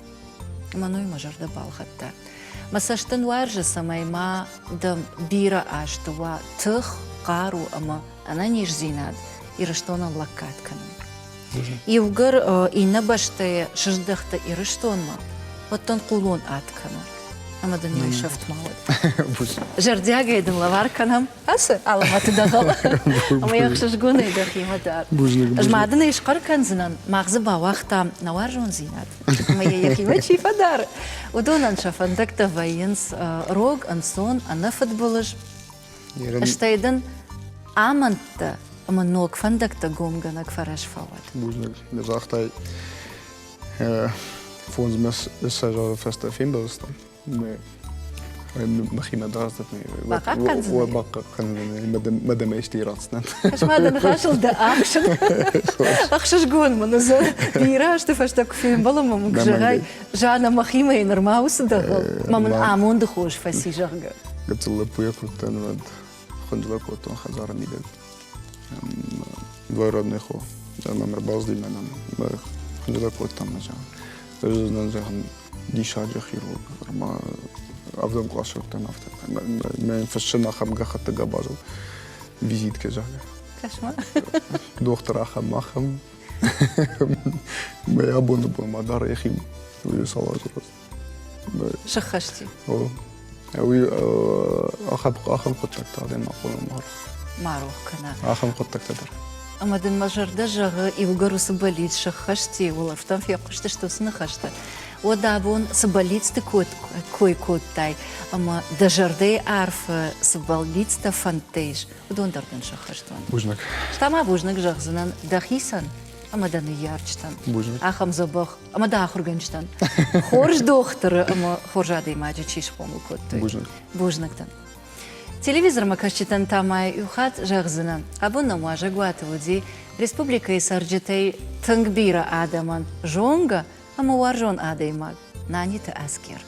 Мӕной мӕ зӕрдӕ балхӕдта. Мӕ цӕст дын уарзы, цӕмӕй ма дӕм бирӕ азты уа тых, хъару ӕмӕ ӕнӕниздзинад Ирыстонӕн лӕггад кӕнын. Иугӕр иннӕ бӕстӕйӕ сыздӕхты Ирыстонмӕ, уӕд дын хъулон ад кӕны. Ӕмӕ дын йыл сӕфт ма уӕд. Зӕрдиагӕй дын лӕвар кӕнӕм Ацы алывӕты дӕгъӕл ӕмӕ йе хсызгонӕй дӕхимӕ дӕр. Ӕз ма дын ӕй схъӕр кӕндзынӕн, мах дзы бауагътам нӕ уарзондзинад. Ӕмӕ йӕ йӕхимӕ чи фӕдары, уыдонӕн сӕ фӕндӕгтӕ вӕййынц рог, ӕнцон, ӕнӕфыдбылыз. Стӕй дын амӕндтӕ ӕмӕ ног фӕндӕгтӕ гомгӕнӕг фӕрӕз фӕуӕд. Бузныг, дӕ загътай. Фондзмӕ сӕ фӕстӕ фембӕлдзыстӕм. махимӕ дардзӕнӕ бахъахъхъӕндзӕнӕ мадӕмӕ исти ирӕцдзӕн мадӕ ныхасылды ӕхсыз ӕхсызгон мын уыдзӕн ирӕзты фӕстӕ куы фембӕлы мӕм зӕгъай жанна махимӕ нырма уыцы дӕгъыл мӕ мын амонды хос фӕци зӕгъгӕ гыццыл лӕппуйӕ куыдтӕн уӕд Хундула кодтон хӕдзарӕ мидӕг. Двойродный хо. Мӕм ӕрбаздимӕ нӕм. Хундула кодтам нӕ Уыдзӕн зӕгъын диссаджы хирург. Ӕмӕ ӕвдӕм кълас сырдтам афтӕ. Мӕ фыссӕн ахӕм гӕххӕтты габазыл визиткӕ загъы. Кошмар. Дохтыр ахӕм, ахӕм. Мӕ абоны бон ма дара йӕхи уыйы салазырос. сыххӕсти уый ахӕм ахӕм хъуыддӕгтӕ адӕймаг хъуамӕ ма ма рох кӕна ахӕм хъуыддӕгтӕ дӕр ӕмӕ дын мӕ зӕрдӕ зӕгъы иугӕр уыцы бӕллиц сыххӕсти уылӕфтӕм фехъуыстысты уыцы ныхӕстӕ уӕд абон цы бӕллицты кой кодтай ӕмӕ дӕ зӕрдӕйы арфы цы бӕллицтӕ фӕндтӕ ис уыдон дӕр дын сӕххӕст уӕнт бузныг та ма бузныг зӕгъдзынӕн дӕхицӕн ӕмӕ дӕ ныййарджытӕн бузныг ахӕм дзӕбӕх ӕмӕ дӕ ахуыргӕнджытӕн хорз дохтыры ӕмӕ хорз адӕймаджы чи схъомыл кодтой бузныг бузнӕгтӕн телевизормӕ кӕсджытӕн та ма иу хатт зӕгъдзынӕн абон нӕм уазӕгуаты уыди республикӕйы цӕрджытӕй тынг бирӕ адӕмӕн зонгӕ ӕмӕ уарзон адӕймаг наниты аскер